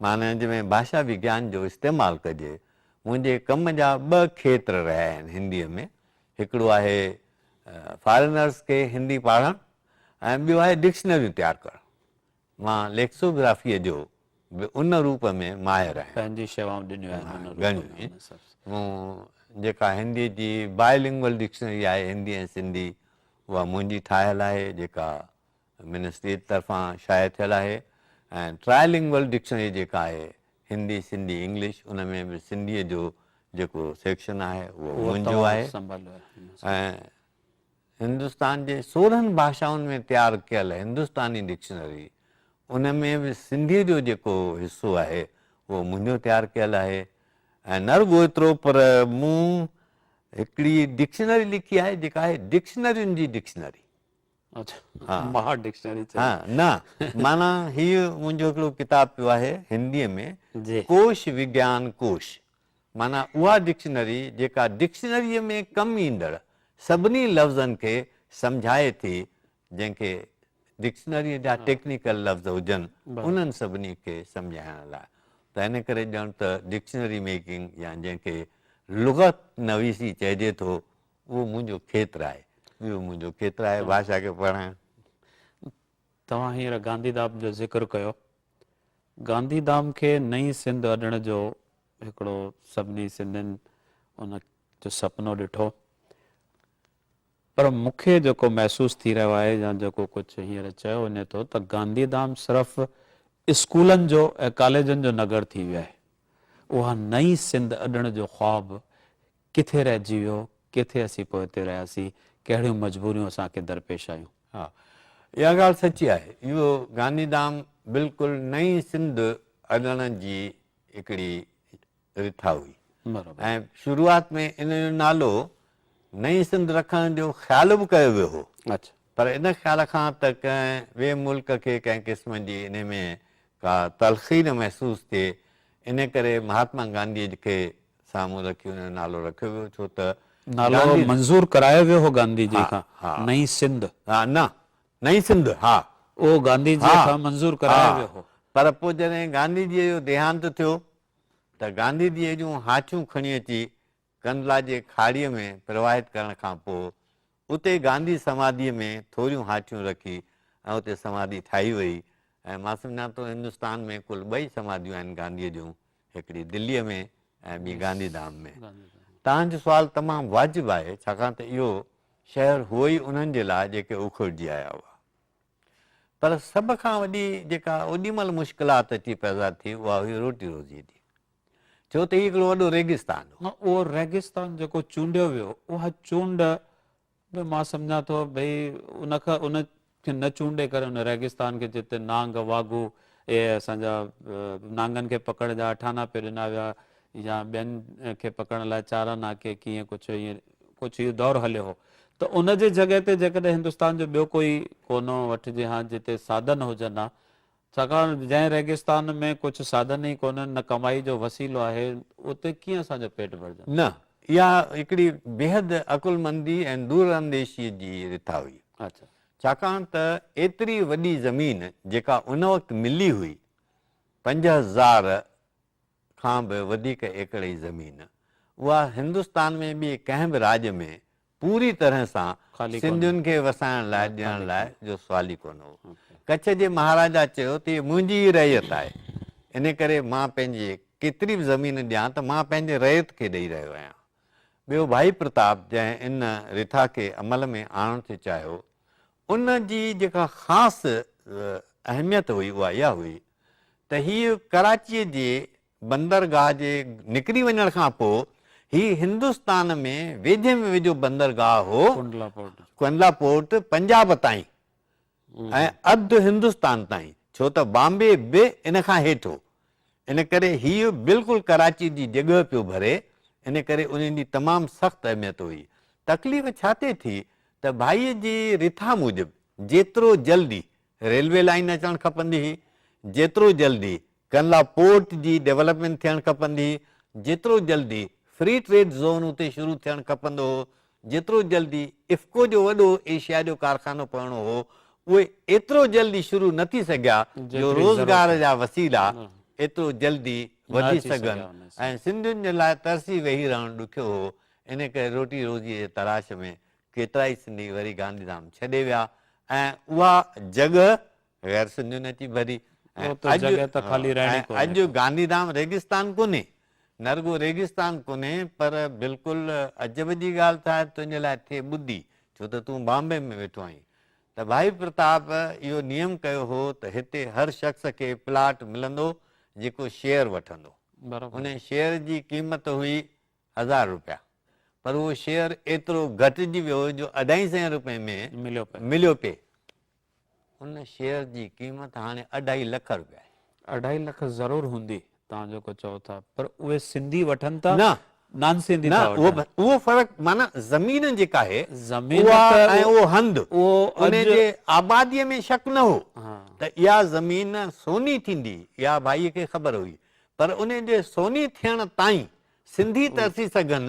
معنيٰ جنهن ۾ ڀاشا وگيان جو استعمال ڪجي، منهنجي ڪم جا ٻه کيتر رهيا آهن هنديء ۾، هڪڙو آهي فارينرز کي هندي پاڙهڻ ۽ ٻيو آهي ڊڪشنريون تيار ڪرڻ. مان ليڪسوگرافيء جو به ان روپ ۾ ماهر آهيان. پنهنجي شيوائون ڏنيون آهن ان روپ ۾. گهڻيون ئي. مون جيڪا هنديء جي باء لنگول ڊڪشنري آهي، هندي ۽ سنڌي، اها منهنجي ٺاهيل آهي، جيڪا منسٽريء طرفان شايع ٿيل آهي ۽ ٽرائي لنگول ڊڪشنري جيڪا آهي هندي، سنڌي، انگلش ان ۾ به سنڌيء جو جيڪو سيڪشن آهي اهو منهنجو آهي ۽ هندستان جي سورهن ڀاشائن ۾ تيار ڪيل هندستاني ڊڪشنري ان ۾ به سنڌيء جو جيڪو حصو آهي اهو منهنجو تيار ڪيل آهي ۽ نه رڳو ايترو پر مون هڪڙي ڊڪشنري لکي آهي جيڪا آهي ڊڪشنرين جي ڊڪشنري. ماهر ڊڪشنري چئي. ها نه معنيٰ هي منهنجو هڪڙو ڪتاب پيو آهي هندي ۾ ڪوش وگيان ڪوش معنيٰ اها ڊڪشنري جيڪا ڊڪشنري ۾ ڪم ايندڙ سڀني لفظن کي سمجهائي ٿي جنهن کي ڊڪشنري جا ٽيڪنيڪل لفظ هجن انهن سڀني کي سمجهائڻ لاء ته ان ڪري ڄڻ ته ڊڪشنري ميڪنگ يا جنهن کي لغت نويسي چئجي ٿو اهو منهنجو کيتر آهي. اهو منهنجو کيتر آهي بادشاهه کي پڙهائڻ. توهان هينئر گانڌي ڌام جو ذڪر ڪيو. گانڌي ڌام کي نئين سنڌ اڏڻ جو هڪڙو سڀني سنڌين ان جو سپنو ڏٺو. پر مون کي جيڪو محسوس ٿي رهيو آهي يا جيڪو ڪجهه هينئر چيو وڃي ٿو ته گانڌي ڌام صرف اسڪولن جو ۽ ڪاليجن جو نگر ٿي ويو آهي. اها نئين سنڌ اڏڻ جو خواب ڪٿي رهجي ويو، ڪٿي اسين پوئتي رهياسين، ڪهڙيون مجبوريون اسان کي درپيش آيون. ها اها ڳالهه سچي آهي. اهو گانڌي ڌام بلڪل نئين سنڌ اڏڻ جي هڪڙي رٿا هئي ۽ شروعات ۾ ان جو نالو نئين سنڌ رکڻ جو خيال به ڪيو ويو هو پر ان خيال کان ته ڪنهن ٻئي ملڪ کي ڪنهن قسم جي ان ۾ ڪا تلخي نه محسوس ٿئي ان ڪري مهاتما گانڌيء کي سامهون رکي ان جو نالو رکيو ويو ڇو ته نالو منظور ڪرايو ويو هو گانڌي جي کان نئين سنڌ ها نه نئين سنڌ ها اهو گانڌي جي کان منظور ڪرايو ويو هو پر پوء جڏهن گانڌي جي جو ديهانت ٿيو ته گانڌي جي جون هاچون کڻي اچي ڪنڌلا جي کاڙي ۾ پرواهت ڪرڻ کان پوء اتي گانڌي سماڌيء ۾ ٿوريون هاٺيون رکي ۽ اتي سماڌي ٺاهي وئي ۽ مان سمجهان ٿو هندستان ۾ ڪل ٻه ئي سماڌيون آهن گانڌيء جون، هڪڙي دليء ۾ ۽ ٻي گانڌي ڌام ۾. توهان جو سوال تمام واجب آهي، ڇاڪاڻ ته اهو شهر هو ئي انهن جي لاء جيڪي اکڙجي آيا هئا. پر سڀ کان وڏي جيڪا اوڏي مهل مشڪلات اچي پيدا ٿي، اها هئي روٽي روزيء جي. ڇو ته هي هڪڙو وڏو ريگستان هو. اهو ريگستان جيڪو چونڊيو ويو، اها چونڊ به مان سمجهان ٿو ڀئي ان کان ان کي نه چونڊي ڪري ان ريگستان کي جتي نانگ واگهو اهي اسان جا نانگن کي پڪڙڻ جا اٺانا پي ڏنا ويا يا ٻين کي پڪڙڻ لاء چارا ناکي ڪيئن ڪجهه ائين ڪجهه اهو دور هليو هو ته ان جي جڳهه تي جيڪڏهن هندستان جو ٻيو ڪوئي ڪونو وٺجي ها جتي سادن هجن ها ڇاڪاڻ جنهن ريگستان ۾ ڪجهه ساڌن ئي ڪونهن، نه ڪمائي جو وسيلو آهي، اتي ڪيئن اسان جا پيٽ ڀرجن؟ نه، اها هڪڙي بيحد عقلمندي ۽ دورانديشيء جي رٿا هئي. ڇاڪاڻ ته ايتري وڏي زمين جيڪا ان وقت ملي هئي، پنج هزار کان به وڌيڪ ايڪڙ ئي زمين اها هندستان ۾ ٻئي ڪنهن به راڄ ۾ پوري طرح سان سنڌين کي وسائڻ لاء ڏيڻ لاء جو سوال ئي ڪونه هو. ڪڇ جي مهاراجا چيو ته هيء منهنجي ئي رعيت آهي، ان ڪري مان پنهنجي ڪيتري به زمين ڏيان ته مان پنهنجي رعيت کي ڏئي رهيو آهيان. ٻيو ڀائي پرتاب جنهن ان رٿا کي عمل ۾ آڻڻ ٿي چاهيو، ان جي جيڪا خاص اهميت هئي اها اها هئي ته هيء ڪراچيء جي بندرگاهه جي نڪري وڃڻ کان پوء هي هندستان ۾ ويجهي ۾ ويجهو بندرگاهه هو، ڪنڊلا پورٽ پنجاب تائين ۽ اڌ هندستان تائين، ڇو ته بامبي به ان کان هيٺ هو. ان ڪري هيء بلڪل ڪراچيء جي جڳهه پيو ڀري، ان ڪري انهن جي تمام سخت اهميت هئي. تڪليف ڇا تي ٿي ته ڀائيء جي رٿا موجب جيترو جلدي ريلوي لائين اچڻ کپندي هئي، جيترو جلدي ڪنلا پورٽ جي ڊيولپمينٽ ٿيڻ کپندي هئي، جيترو جلدي فري ٽريڊ زون اتي شروع ٿيڻ کپندو هو، جيترو جلدي افڪو جو وڏو ايشيا جو ڪارخانو پوڻو هو، اهي ايترو جلدي شروع نه ٿي سگهيا جو روزگار جا وسيلا ايترو جلدي وڌي سگهن ۽ سنڌين جي لاء ترسي ويهي رهڻ ڏکيو هو، ان ڪري روٽي روزيء جي تلاش ۾ ڪيترائي سنڌي وري گانڌيڌام ڇڏي ويا ۽ اها جڳهه غير سنڌين اچي ڀري ۽ اڄ گانڌي ڌام ريگستان ڪونهي نه رڳو ريگستان ڪونهي پر بلڪل عجب جي ڳالهه ٿا تنهنجي لاء ٿئي ٻڌي ڇو ته تون بامبي ۾ ويٺو آهين ته ڀائي پرتاب اهو نيم ڪيو هو ته هتي هر شخص کي پلاٽ ملندو جيڪو شيئر وٺندو ان شيئر جي قيمت هئي هزار روپيا پر اهو شيئر ايترو گهٽجي ويو جو اڍائي سئين روپئي ۾ مليو پئي ان شيئر جي قيمت هاڻي اڍائي لک روپيا آهي. اڍائي لک ضرور هوندي توهان جيڪو چئو ٿا پر اهي سنڌي وٺن ٿا نه نان سنڌي ٿا وٺن. نه اهو فرق معنيٰ زمين جيڪا آهي اها ۽ اهو هنڌ انهي جي آبادي ۾ شڪ نه هو ته اها زمين سوني ٿيندي اها ڀائي کي خبر هئي پر انهي جي سوني ٿيڻ تائين سنڌي ترسي سگهن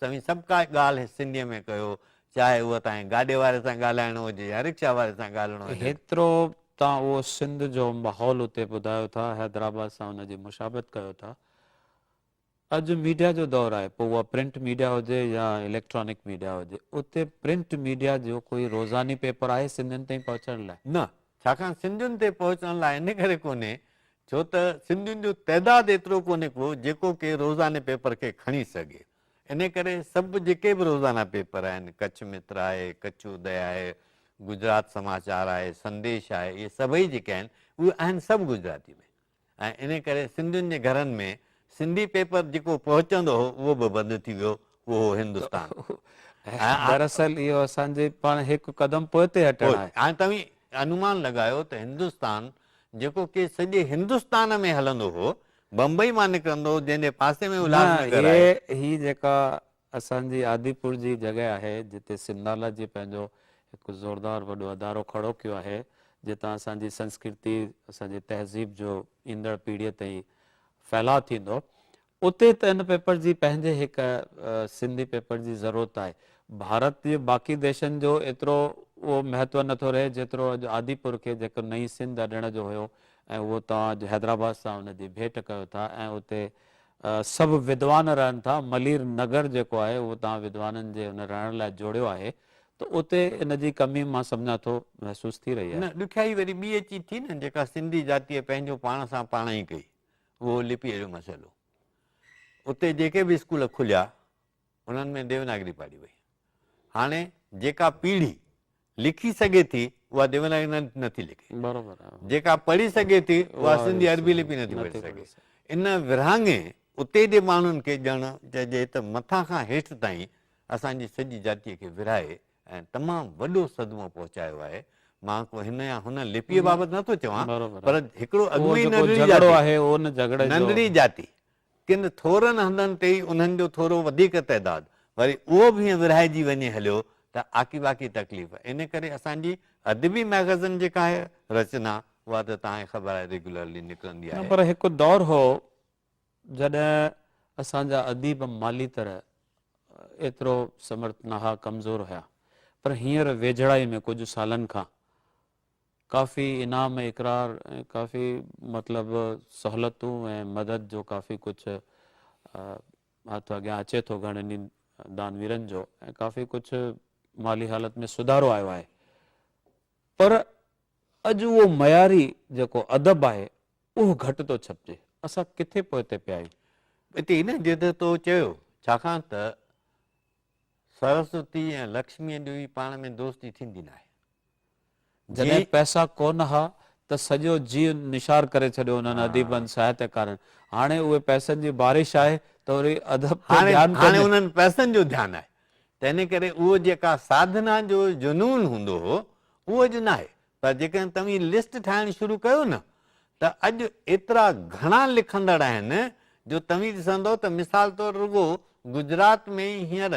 توهين سڀ ڪا ڳالهه سنڌيء ۾ ڪيو، چاهي اهو توهين گاڏي واري سان ڳالهائڻو هجي يا رڪشا واري سان ڳالهڻو هجي. هيترو توهان اهو سنڌ جو ماحول اتي ٻڌايو ٿا، حيدرآباد سان ان جي مشابهت ڪيو ٿا. اڄ ميڊيا جو دور آهي، پوء اها پرنٽ ميڊيا هجي يا اليڪٽرانڪ ميڊيا هجي. اتي پرنٽ ميڊيا جو ڪوئي روزاني پيپر آهي سنڌين تائين پهچڻ لاء؟ نه، ڇاڪاڻ سنڌين تي پهچڻ لاء ان ڪري ڪونهي ڇو ته سنڌين جو تعداد ايترو ڪونهي ڪو جيڪو ڪي روزاني پيپر کي کڻي سگهي. انهي ڪري سڀ جيڪي به روزانه پيپر آهن، ڪڇ متر آهي، ڪڇ ادي آهي، گجرات سماچار آهي، سنديش آهي، اهي سڀئي جيڪي آهن، اهي آهن سڀ گجراتي ۾. ۽ انهي ڪري سنڌين جي گهرن ۾ سنڌي پيپر جيڪو پهچندو هو اهو به بند ٿي ويو اهو هو هندستان. دراصل اهو اسان جي پاڻ هڪ قدم پوئتي هٽڻ آهي. هاڻي توهين انومان لڳايو ته هندستان جيڪو ڪي سڄي هندستان ۾ هلندو هو، بمبئي مان نڪرندو هو جنهن جي پاسي ۾ الهاس نگر آهي. نه هي جيڪا اسان جي آديپور جي جڳهه آهي جتي سنڌالا جي پنهنجو هڪ زوردار وڏو ادارو کڙو ڪيو آهي جتان اسان جي سنسڪرتي اسان جي تهذيب جو ايندڙ پيڙهيء تائين ڦهلاء ٿيندو اتي ته ان پيپر جي پنهنجي هڪ سنڌي پيپر جي ضرورت آهي ڀارت جي باقي ديشن جو ايترو اهو مهتو نٿو رهي جيترو اڄ آديپور کي جيڪو نئين سنڌ اڏڻ جو هيو ۽ اهو توهان اڄ حيدرآباد سان ان جي ڀيٽ ڪيو ٿا ۽ اتي سڀ ودوان رهن ٿا، ملير نگر جيڪو آهي اهو توهان ودوانن جي ان رهڻ لاء جوڙيو آهي ته اتي ان جي ڪمي مان سمجهان ٿو محسوس ٿي رهي آهي. نه ڏکيائي وري ٻي اچي ٿي نه جيڪا سنڌي ذاتيء پنهنجو پاڻ سان پاڻ ئي ڪئي اهو لپيء جو مسئلو اتي جيڪي به اسڪول کليا انهن ۾ ديوناگري پاڙهي وئي. هاڻي جيڪا پيڙهي لکي سگهي ٿي اها ديوناگري نه ٿي لکي. جيڪا پڙهي سگهي ٿي اها سنڌي عربي لپي نه ٿي پڙهي سگهي. ان ورهاڱي اتي جي ماڻهن کي ڄڻ چئجي ته مٿان کان هيٺ تائين اسان جي سڄي جاتيء کي ورهائي ۽ تمام وڏو صدمو پهچايو آهي. مان ڪو هن يا هن لپيء بابت نه ٿو چوان پر هڪڙو اڳ ۾ ئي ننڍڙي جاتي، ننڍڙي جاتي ڪن ٿورن هنڌن تي ئي انهن جو ٿورو وڌيڪ تعداد وري اهو به ائين ورهائجي وڃي هليو ته آڪي باقي تڪليف ان ڪري اسان جي ادبي مئگزن جيڪا آهي رچنا اها ته توهان کي خبر آهي ريگيولرلي نڪرندي آهي. نه پر هڪ دور هو جڏهن اسان جا اديب مالي طرح ايترو سمرٿ نه ها ڪمزور هيا پر هينئر ويجهڙائي ۾ ڪجهه سالن کان ڪافي انعام ۽ اقرار ۽ ڪافي مطلب سهولتون ۽ مدد جو ڪافي ڪجهه هٿ اڳيان اچي ٿو گهڻن ئي دانويرن جو ۽ ڪافي ڪجهه مالي حالت ۾ سڌارو آيو آهي پر اڄ اهو معياري جيڪو ادب آهي اهو گهٽ ٿو ڇپجي اسان ڪٿي پوئتي پيا آهيون هتي ان جي ته تو چيو ڇاڪاڻ ته سرسوتي ۽ لڪشمي جو ئي پاڻ ۾ دوستي ٿيندي ناهي جي جڏهن پئسا ڪونه ها ته سڄو جيء نشار ڪري ڇڏيو انهن اديبن، ساهتڪارن. هاڻي اهي پئسن جي بارش آهي ته وري ادب تي هاڻي ڌيان هاڻي ڪونهي. انهن پئسن جو ڌيان آهي. تنهن ڪري اهو جيڪا ساڌنا جو جنون هوندو هو اهو اڄ ناهي. پر جيڪڏهن توهين لسٽ ٺاهڻ شروع ڪيو نه ته اڄ ايترا گهڻا لکندڙ آهن جو توهين ڏسندؤ ته مثال طور رڳو گجرات ۾ ئي هينئر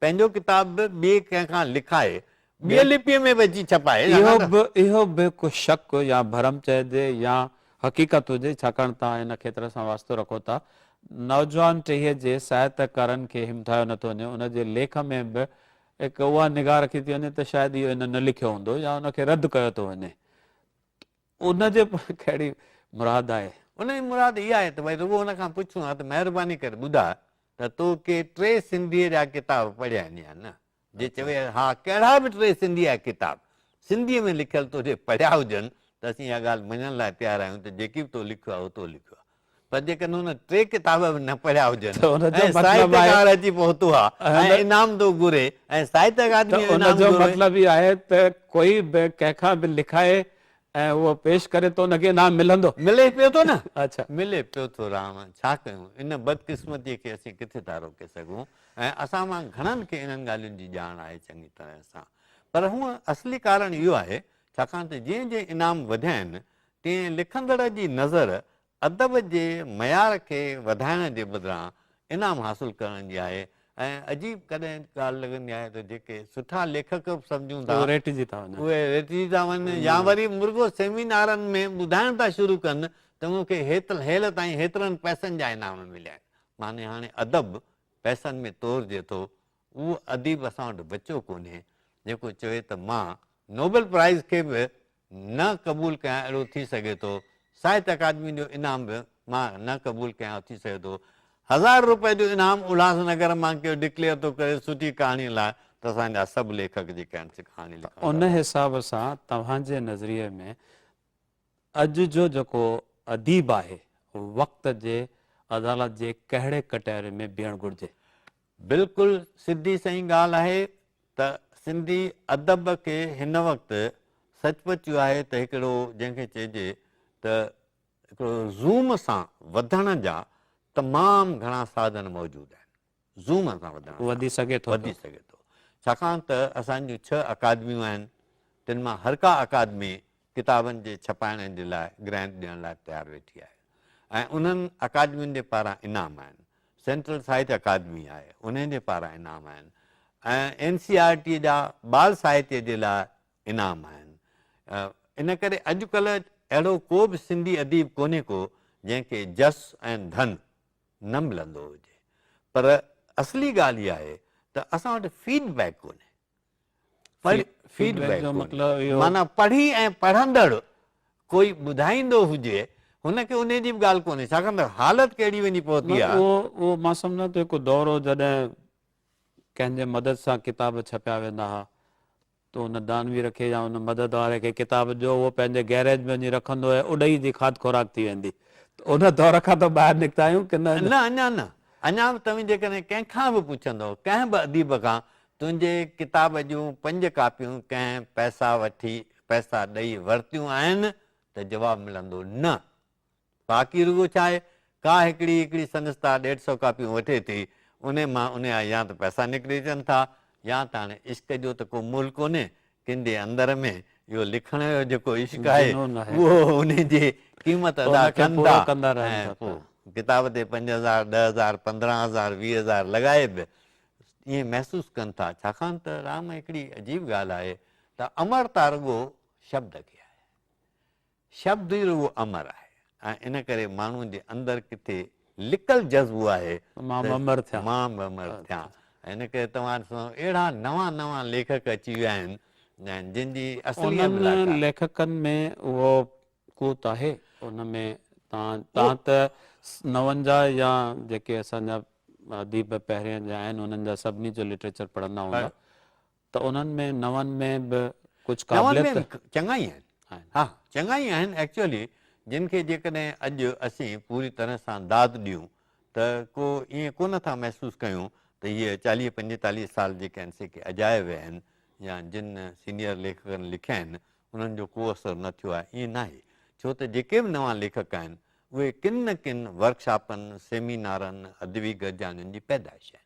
پنهنجو ڪتاب به ٻئي ڪنهن کان لکائي، ٻيء لپيء ۾ به اچي ڇپائي. اهو به اهو به ڪو شڪ يا ڀرم چئجي يا حقيقت هجي، ڇاڪاڻ توهان ان کيتر سان واسطو رکو ٿا. نوجوان ٽهيء جي ساهتڪارن کي همٿايو نه ٿو وڃي، ان جي ليک ۾ به هڪ اها نگاهه رکي ٿي وڃي ته شايد اهو هن نه لکيو هوندو يا ان کي رد ڪيو ٿو وڃي. ان جي پوء ڪهڙي مراد آهي؟ ان جي مراد اها آهي ته ڀائي رڳو ان کان پڇون ها ته مهرباني ڪري ٻڌاء ته تو ڪي ٽي سنڌيء جا ڪتاب پڙهيا آهن يا نه؟ جي چوي ها ڪهڙا به ٽي سنڌيء جا ڪتاب سنڌيء ۾ لکيل تو جي پڙهيا هجن ته اسين اها ڳالهه مڃڻ لاء تيار آهيون ته جيڪي به تو لکيو آهي اهو تو لکيو آهي. پر جيڪڏهن هن ٽي ڪتاب به نه پڙهيا هجن ۽ ساهت اڪاڊمي اچي پهتو آهي ۽ انعام ٿو گهري ۽ ساهت اڪاڊمي انعام گهري ته ان جو مطلب هي آهي ته ڪوئي به ڪنهن کان به لکائي ۽ اهو پيش ڪري ته ان کي انعام ملندو. ملي پيو ٿو نه. اڇا. ملي پيو ٿو رام. ڇا ڪيون؟ ان بدقسمتيء کي اسين ڪٿي ٿا روڪي سگهون ۽ اسان مان گهڻن کي انهن ڳالهين جي ڄاڻ آهي چڱي طرح سان. پر هونء اصلي ڪارڻ اهو آهي ڇاڪاڻ ته جئين جئين انعام وڌيا آهن ڪنهن لکندڙ جي نظر ادب جي معيار کي وڌائڻ جي بدران انعام حاصل ڪرڻ جي آهي ۽ عجيب ڪڏهن ڳالهه لڳندي آهي ته جيڪي سٺا ليکڪ به سمجهون ٿا اهي ريٽجي ٿا وڃن يا وري مرڳو سيمينارن ۾ ٻڌائڻ ٿا شروع ڪن ته مون کي هيل تائين هيترن پئسن جا انعام مليا آهن معني هاڻي ادب پئسن ۾ تورجي ٿو اهو اديب اسان وٽ بچيو ڪونهي جيڪو چوي ته مان نوبل پرائز کي به نه قبول ڪيان اهڙو ٿي سگهي ٿو ساهت اڪادمي جو انعام به مان نه قبول ڪيان اهو ٿي سگهي ٿو هزار روپئي جو انعام الهاس نگر مان ڪيو ڊڪليئر ٿو ڪري سٺي ڪهاڻي لاء ته اسان جا سڀ ليکڪ جيڪي آهن سي ڪهاڻي لکڻ لاء ان حساب سان توهان جي نظريي ۾ اڄ جو جيڪو اديب آهي وقت جي عدالت جي ڪهڙي ڪٽهري ۾ بيهڻ گهرجي؟ بلڪل سڌي سئي ڳالهه آهي ته سنڌي ادب کي هن وقت سچ پچ اهو آهي ته هڪڙو جنهن کي چئجي ته هڪڙو زوم سان وڌڻ جا تمام گهڻا ساڌن موجود آهن زوم سان وڌڻ جا وڌي سگهي ٿو وڌي سگهي ٿو ڇاڪاڻ ته اسان جون ڇهه اڪادميون آهن تن مان هر ڪا اڪادمي ڪتابن جي ڇپائڻ جي لاء گرانٽ ڏيڻ لاء تيار ويٺي آهي ۽ انهن اڪادمين جي پاران انعام آهن. سينٽرل ساهتيه اڪادمي آهي، انهي جي پاران انعام آهن ۽ اين سي آر ٽي جا ٻال ساهتيه جي لاء انعام آهن. ان ڪري اڄ ڪلهه اهڙو ڪو به سنڌي اديب ڪونهي ڪو جنهن کي جس ۽ ڌن نه ملندو هجي پر اصلي ڳالهه اها آهي ته اسان وٽ فيڊ بيڪ ڪونهي. فيڊ بيڪ جو مطلب اهو معنيٰ پڙهي ۽ پڙهندڙ ڪوئي ٻڌائيندو هجي هن کي انهي جي به ڳالهه ڪونهي ڇاڪاڻ ته حالت ڪهڙي وڃي پهتي آهي. اهو مان سمجهان ٿو هڪ دور هو جڏهن ڪنهن جي مدد سان ڪتاب ڇپيا ويندا ها ته ان دانوير کي يا ان مدد واري کي ڪتاب ڏيو اهو پنهنجي گئريج ۾ وڃي رکندو هي اڏهي جي کاڌ خوراڪ ٿي ويندي ته ان دور کان تو ٻاهر نڪتا آهيون ڪي نه. نه اڃان نه اڃان به توهين جيڪڏهن ڪنهن کان به پڇندؤ ڪنهن به اديب کان تنهنجي ڪتاب جون پنج ڪاپيون ڪنهن پئسا وٺي پئسا ڏئي ورتيون آهن؟ ته جواب ملندو نه. باقي رڳو ڇا آهي، ڪا هڪڙي هڪڙي سندس تا ڏيڍ سئو ڪاپيون وٺي ٿي، انهي مان انهيا يا ته پئسا نڪري اچن ٿا يا ته هاڻي عشق جو ته ڪو مول ڪونهي، ڪن جي اندر ۾ اهو لکڻ جو جيڪو عشق آهي، اهو انهي جي قيمت ادا ڪن ٿا ۽ پوء ڪتاب تي پنج هزار، ڏهه هزار، پندرهن هزار، ويهه هزار لڳائي به ائين محسوس ڪن ٿا ڇاڪاڻ ته رام هڪڙي عجيب ڳالهه آهي ته امرتا رڳو شبد کي آهي شبد ئي رڳو امر آهي ۽ ان ڪري ماڻهو جي اندر ڪٿي لڪل جذبو آهي مان به امر ٿيان مان به امر ٿيان ان ڪري توهان ڏسو اهڙا نوان نوان ليکڪ اچي ويا آهن جن جي اصلي ليکڪن ۾ اهو ڪوت آهي ان ۾ تان تان ته نونجا يا جيڪي اسان جا اديب پهرين جا آهن انهن جا سڀني جو لٽريچر پڙهندا هوندا ته انهن ۾ نون ۾ به ڪجهه قابليت چڱا ئي آهن ها چڱا ئي آهن ايڪچولي جن کي جيڪڏهن اڄ اسين پوري طرح سان داد ڏيون ته ڪو ائين ڪو نه ٿا محسوس ڪيون ته هي چاليهه پنجيتاليهه سال جيڪي ان سي ڪي اجايا ويا آهن يا جن سينيئر ليکڪن لکيا آهن انهن جو ڪو اثر نه ٿيو آهي، ائين ناهي، ڇو ته جيڪي به نوان ليکڪ آهن، اهي ڪن نه ڪن ورڪشاپن، سيمينارن، ادبي گڏجاڻين جي پيدائش آهن.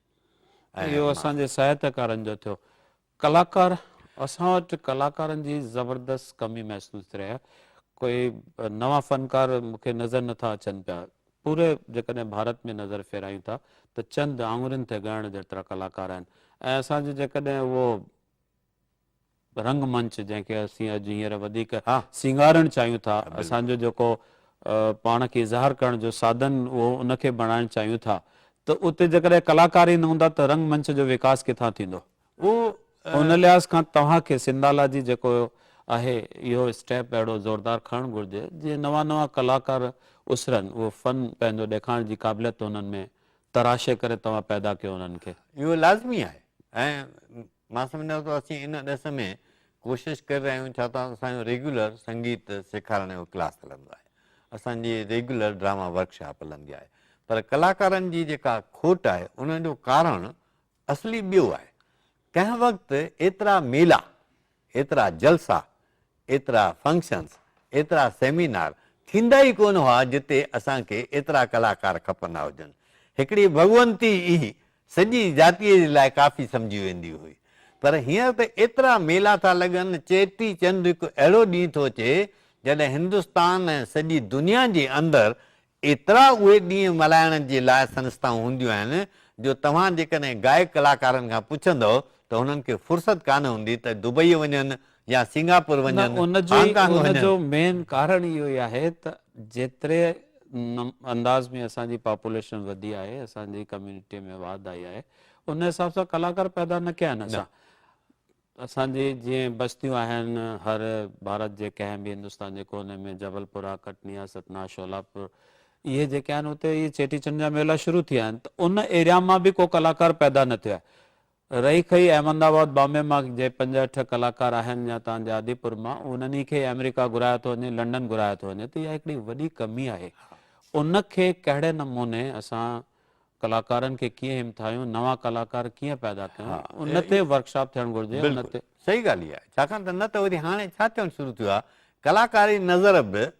اهو اسان جي ساهتڪارن جو ٿيو. ڪلاڪار، اسان وٽ ڪلاڪارن جي زبردست ڪمي محسوس ٿي رهي آهي. ڪوئي نوان فنڪار مون کي نظر نه ٿا اچن پيا. پوري جيڪڏهن ڀارت ۾ نظر ڦيرايون ٿا ته چند آڱرين تي ڳڻڻ جيترا ڪلاڪار آهن ۽ اسان جي جيڪڏهن اهو رنگ منچ جنهن کي اسين اڄ هينئر وڌيڪ سينگارڻ چاهيون ٿا، اسان جو جيڪو پاڻ کي اظهار ڪرڻ جو سادن اهو ان کي بڻائڻ چاهيون ٿا ته اتي جيڪڏهن ڪلاڪار ئي نه هوندا ته رنگ منچ جو وڪاس ڪٿان ٿيندو؟ ان لحاظ کان توهان کي سنڌالاجي جيڪو آهي اهو اسٽيپ اهڙو زوردار کڻڻ گهرجي جيئن نوان نوان ڪلاڪار اسرن، اهو فن پنهنجو ڏيکارڻ جي قابليت انهن ۾ تراشي ڪري توهان پيدا ڪيو انهن کي. اهو لازمي آهي ۽ مان سمجهان ٿو اسين ان ڏس ۾ ڪوشش ڪري رهيا آهيون ڇا ته اسان جو ريگيولر سنگيت سيکارڻ جو ڪلاس هلندو آهي اسان جي ريگيولر ڊراما ورڪ شاپ هلندي آهي پر ڪلاڪارن جي جيڪا کوٽ آهي ان جو ڪارڻ اصلي ٻيو آهي ڪنهن وقت ايترا ميلا ايترا جلسا ايترا فنڪشنز، ايترا سيمينار ٿيندا ئي ڪونه هئا جتي اسان کي ايترا ڪلاڪار کپندا هجن. هڪڙي ڀڳونتي ئي سڄي جاتيء جي لاء ڪافي سمجهي ويندي هئي. پر هينئر ته ايترا ميلا ٿا لڳن، چيٽي چنڊ هڪ اهڙو ڏينهن ٿو اچي جڏهن هندستان ۽ سڄي دنيا جي اندر ايترا اهي ڏينهن ملهائڻ جي لاء سنستائون هونديون آهن جو توهان جيڪڏهن گائڪ ڪلاڪارن کان پڇندؤ ته هنن کي فرصت ڪانه هوندي ته دبئي وڃن يا سنگاپور نه وڃن، ان جو هانگ ڪانگ ان وڃن. جو مين ڪارڻ اهو ئي آهي ته جيتري انداز ۾ اسان جي پاپوليشن وڌي آهي اسان جي ڪميونٽي ۾ واڌ آئي آهي ان حساب سان ڪلاڪار پيدا نه ڪيا آهن نه. اسان. اسان جي جيئن بستيون آهن، هر ڀارت جي ڪنهن به هندستان جي ڪوني ۾ جبل پورا، ڪٽنيا، ستنا، شولاپور اهي جيڪي آهن اتي اهي چيٽي چنڊ جا ميلا شروع ٿيا آهن ته ان ايريا مان به ڪو ڪلاڪار پيدا نه ٿيو آهي. رهي کهي احمد آباد بامبي مان جي پنج اٺ ڪلاڪار آهن يا تان جي آدي پور مان انهن ئي کي آمريڪا گهرايو ٿو وڃي لنڊن گهرايو ٿو وڃي ته اها هڪڙي وڏي ڪمي آهي ان کي ڪهڙي نموني اسان ڪلاڪارن کي ڪيئن همٿايون، نوان ڪلاڪار ڪيئن پيدا ڪيون، ان تي ورڪ شاپ ٿيڻ گهرجي. ان تي. صحيح ڳالهه اها آهي، ڇاڪاڻ ته نه ته وري هاڻي ڇا ٿيڻ شروع ٿيو آهي، ڪلاڪاري نظر به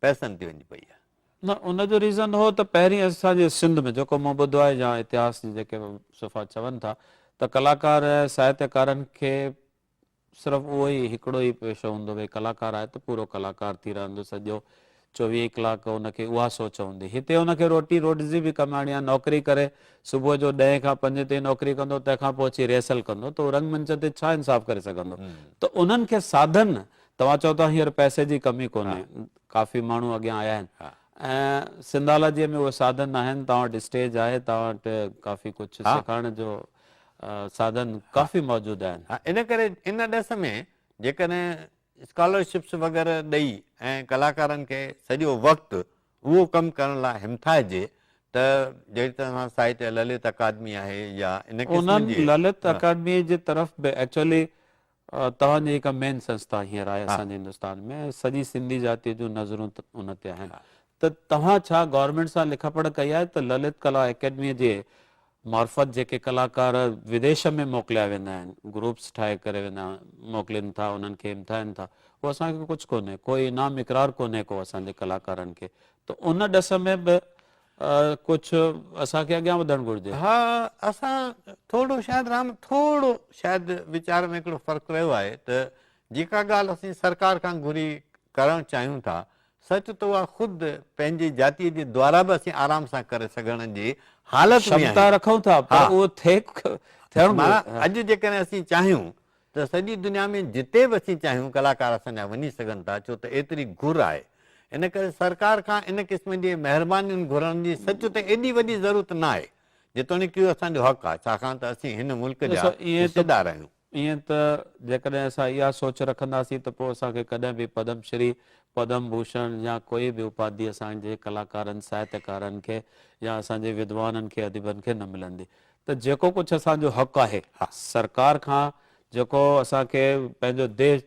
پئسن تي وڃي پئي آهي. نه ان جو ريزن هو ته پهرين اسان جي سنڌ ۾ جيڪو مون ٻڌو آهي يا اتهاس جي جيڪي صفحا چون ٿا ته ڪلاڪار ساهتيڪارن کي. صرف اهو ئي هڪڙو ئي پيشو هوندو ڀئي ڪلاڪار آهي ته پورو ڪلاڪار ٿي رهندو سڄو چوويهه ڪلاڪ ان کي اها سوچ هوندي هتي ان کي روٽي روٽزي به ڪمائڻي آهي نوڪري ڪري صبح جو ڏهين کان پنجين تائين نوڪري ڪندو تنهن کان پوء اچي ريهرسل ڪندو ته هو رنگ منچ تي ڇا انصاف ڪري سگهندو ته انهن کي ساڌن توهان چئو ٿا هينئر پئسي جي ڪمي ڪونهي ڪافي ماڻهو اڳيان آيا آهن ۽ سنڌالاجيء ۾ اهي ساڌن آهن توهان وٽ اسٽيج آهي توهان وٽ ڪافي ڪجهه سيکارڻ جو سادن ڪافي موجود آهن. ان ڪري ان ڏس ۾ جيڪڏهن اسڪالرشپس وغيره ڏئي ۽ ڪلاڪارن کي سڄو وقت اهو ڪم ڪرڻ لاء همٿائجي ته جهڙي طرح سان ساهتيه للت اڪادمي آهي يا ان قسم جي. انهن للت اڪادميء جي طرف به ايڇ ايل اي توهان جي هڪ مين سنسٿا هينئر آهي اسان جي هندستان ۾ سڄي سنڌي جاتيء جون نظرون ته ان تي آهن ته توهان ڇا گورنمينٽ سان لک پڙهه ڪئي آهي ته للت ڪلا اڪيڊميء جي معرفت جيڪي ڪلاڪار وديش ۾ موڪليا ويندا آهن گروپس ٺاهي ڪري ويندا موڪلين ٿا انهن کي امتحائن ٿا هو اسان کي ڪجهه ڪونهي ڪوئي انعام اقرار ڪونهي ڪو اسان جي ڪلاڪارن کي ته ان ڏس ۾ به ڪجهه اسان کي اڳيان وڌڻ گهرجي. ها اسان ٿورو شايد رام ٿورو شايد ويچار ۾ هڪڙو فرق رهيو آهي ته جيڪا ڳالهه اسين سرڪار کان گهري ڪرڻ چاهيون ٿا سچ ته اها خود پنهنجي جاتي جي دوارا به اسين آرام سان ڪري سگهڻ جي حالت ۾ آهيون. شمتا رکون ٿا پر اهو ٿئي ٿيڻ گهرجي. معنيٰ اڄ جيڪڏهن اسين چاهيون ته سڄي دنيا ۾ جتي به اسين چاهيون ڪلاڪار اسان جا وڃي سگهن ٿا ڇو ته ايتري گهر آهي ان ڪري سرڪار کان ان قسم جي مهربانين گهرڻ جي سچ ته ايڏي وڏي ضرورت نه آهي جيتوڻيڪ اهو اسان جو حق آهي ڇاڪاڻ ته اسين هن ملڪ جا حصيدار آهيون. ائين ته جيڪڏهن اسان اها سوچ رکنداسين ته پوء اسان کي ڪڏهن به پدم شري، پدم ڀوشڻ يا ڪوئي به اپاڌي اسان جي ڪلاڪارن، ساهتيڪارن کي يا اسان جي ودوانن کي، اديبن کي نه ملندي. ته جيڪو ڪجهه اسان جو حق آهي سرڪار کان جيڪو اسان کي پنهنجو ديھ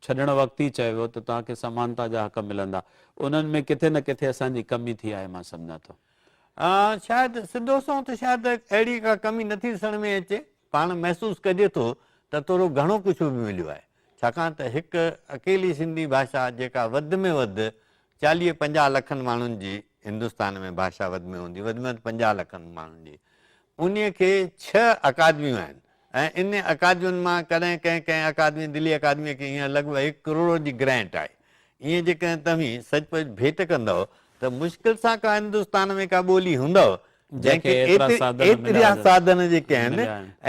ڇڏڻ وقت ئي چيو ويو ته توهان کي سمانتا جا حق ملندا انهن ۾ ڪٿي نه ڪٿي اسان جي ڪمي ٿي آهي مان سمجهان ٿو. شايد سڌو سنئون ته شايد اهڙي ڪا ڪمي نٿي ڏسڻ ۾ اچي پاڻ محسوس ڪجي ٿو ته ٿورو گهڻو ڪجهه به مليو آهي ڇاڪاڻ ته هڪ اڪيلي سنڌي ڀاشا جيڪا وڌ ۾ وڌ چاليهه پنجاهه لکن ماڻهن جي هندستان ۾ ڀاشا وڌ ۾ هوندي وڌ ۾ وڌ پنجاهه لکن ماڻهن جي انهي کي ڇهه اڪادميون آهن ۽ ان اڪادمين مان ڪڏهن ڪنهن ڪنهن اڪادمي دلي اڪادمي کي هينئر لڳ ڀڳ هڪ ڪروڙ جي گرينٽ آهي ايئن جيڪڏهن توهين سچ پچ ڀيٽ ڪندؤ ته مشڪل سان ڪا هندستان ۾ ڪا ٻولي هوندؤ جنهن کي ايتريا ساڌن جيڪي آهن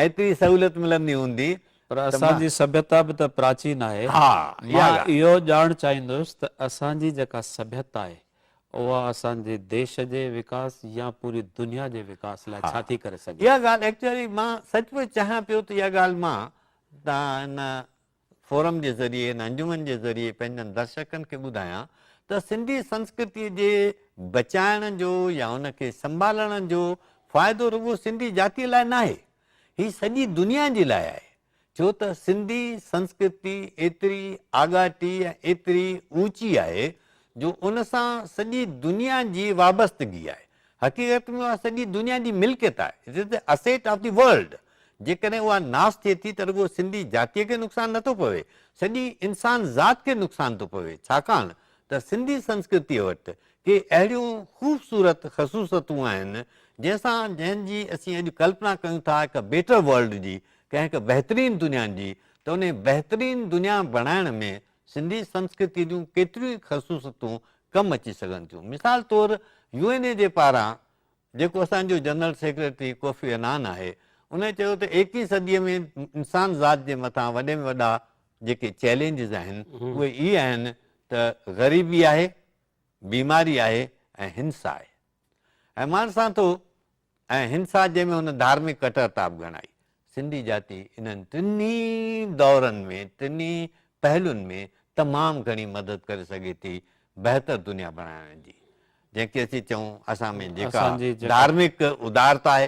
ايتري سهولت ملندي هوندي پر ته اسان مان. جي سڀيتا به ته پراچين آهي. ها، اها مان ڳالهه. اهو ڄاڻ چاهيندس ته اسان جي جيڪا سڀيتا آهي، اها اسان جي ديش جي وڪاس يا پوري دنيا جي وڪاس لاء ها، ڇا ٿي ڪري سگهي؟ اها ڳالهه ايڪچوئلي مان سچ پچ چاهيان پيو ته اها ڳالهه مان تان ان فورم جي ذريعي، ان انجمن جي ذريعي پنهنجن درشڪن کي ٻڌايان ته سنڌي سنسڪرتيء جي بچائڻ جو يا ان کي سنڀالڻ جو فائدو رڳو سنڌي جاتيء لاء ناهي، هي سڄي دنيا جي لاء آهي، ڇو ته سنڌي سنسڪرتي ايتري آڳاٽي ۽ ايتري اوچي آهي جو ان سان سڄي دنيا جي وابستگي آهي. حقيقت ۾ اها سڄي دنيا جي ملڪيت آهي، It is the asset of the world. جيڪڏهن اها ناس ٿئي ٿي ته رڳو سنڌي جاتيء کي نقصان نه ٿو پوي، سڄي انسان ذات کي نقصان ٿو پوي، ڇاڪاڻ ته سنڌي سنسڪرتيء وٽ ڪي اهڙيون خوبصورت خصوصتون آهن، جنهن سان جنهن جي اسين اڄ ڪلپنا ڪيون ٿا هڪ بيٽر ورلڊ جي، ڪنهن هڪ بهترين دنيا جي، ته انهي بهترين دنيا بڻائڻ ۾ سنڌي سنسڪرتيء جون ڪيتريون ئي خصوصتون ڪم اچي سگهن ٿيون. مثال طور يو اين اي جي پاران جيڪو اسان جو جنرل سيڪريٽري ڪوفي عنان آهي، ان چيو ته ايڪيهين صديء ۾ انسان ذات جي مٿان وڏي ۾ وڏا جيڪي چئلينجز آهن، اهي ئي آهن ته غريبي آهي، بيماري آهي ۽ هنسا آهي ۽ ماڻسان ٿو ۽ هنسا جنهن ۾ هن ڌارمڪ ڪٽرتا به گهڻائي. سنڌي جاتي انهن ٽنهي دورن ۾ ٽنهي پهلون ۾ تمام گهڻي مدد ڪري سگهي ٿي بهتر دنيا بڻائڻ جي جنهن کي اسين چئون اسان ۾ جيڪا ڌارمڪ ادارتا آهي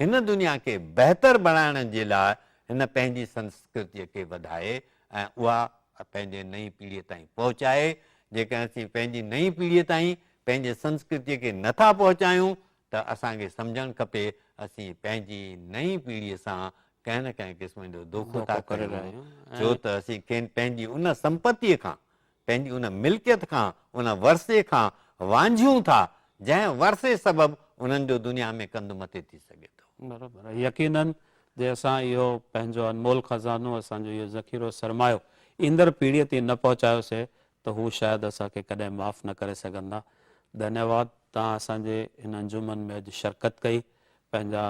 هن دنيا کي بهتر بڻائڻ جي لاء هن پنهنجي سنسڪرتيء کي وڌائي ۽ اها پنهنجي نئين پيڙهيء تائين پهچائي. جيڪڏهن اسين پنهنجي نئين پيڙهيء تائين پنهنجي سنسڪرتيء کي نه ٿا پهچايون ته اسان کي سمجهڻ کپي اسين پنهنجي نئين پيڙهيء سان ڪنهن نه ڪنهن قسم جو دوکو ٿا ڪريون ڇو ته اسين کين پنهنجي ان سمپتيء کان پنهنجي ان ملڪيت کان، ان ورثي کان وانجهيون ٿا، جنهن ورثي سبب انهن جو دنيا ۾ ڪنڌ مٿي ٿي سگهي ٿو. برابر آهي. يقينن جي اسان اهو پنهنجو انمول خزانو، اسان جو اهو ذخيرو سرمايو ايندڙ پيڙهيء تي نه پهچايوسي ته هو شايد اسان کي ڪڏهن معاف نه ڪري سگهندا. ڌنيواد، توهان اسان جي هن انجمن ۾ اڄ شرڪت ڪئي، پنهنجا.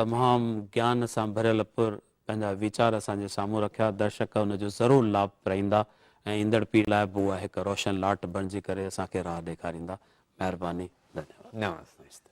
تمام گيان سان ڀريل پر پنهنجا ويچار اسان جي سامهون رکيا، درشڪ ان جو ضرور لاڀ پرائيندا ۽ ايندڙ پيڙهي لاء به اها هڪ روشن لاٽ بڻجي ڪري اسان کي راهه ڏيکاريندا. مهرباني. ڌنيواد. نواز سائين استاد.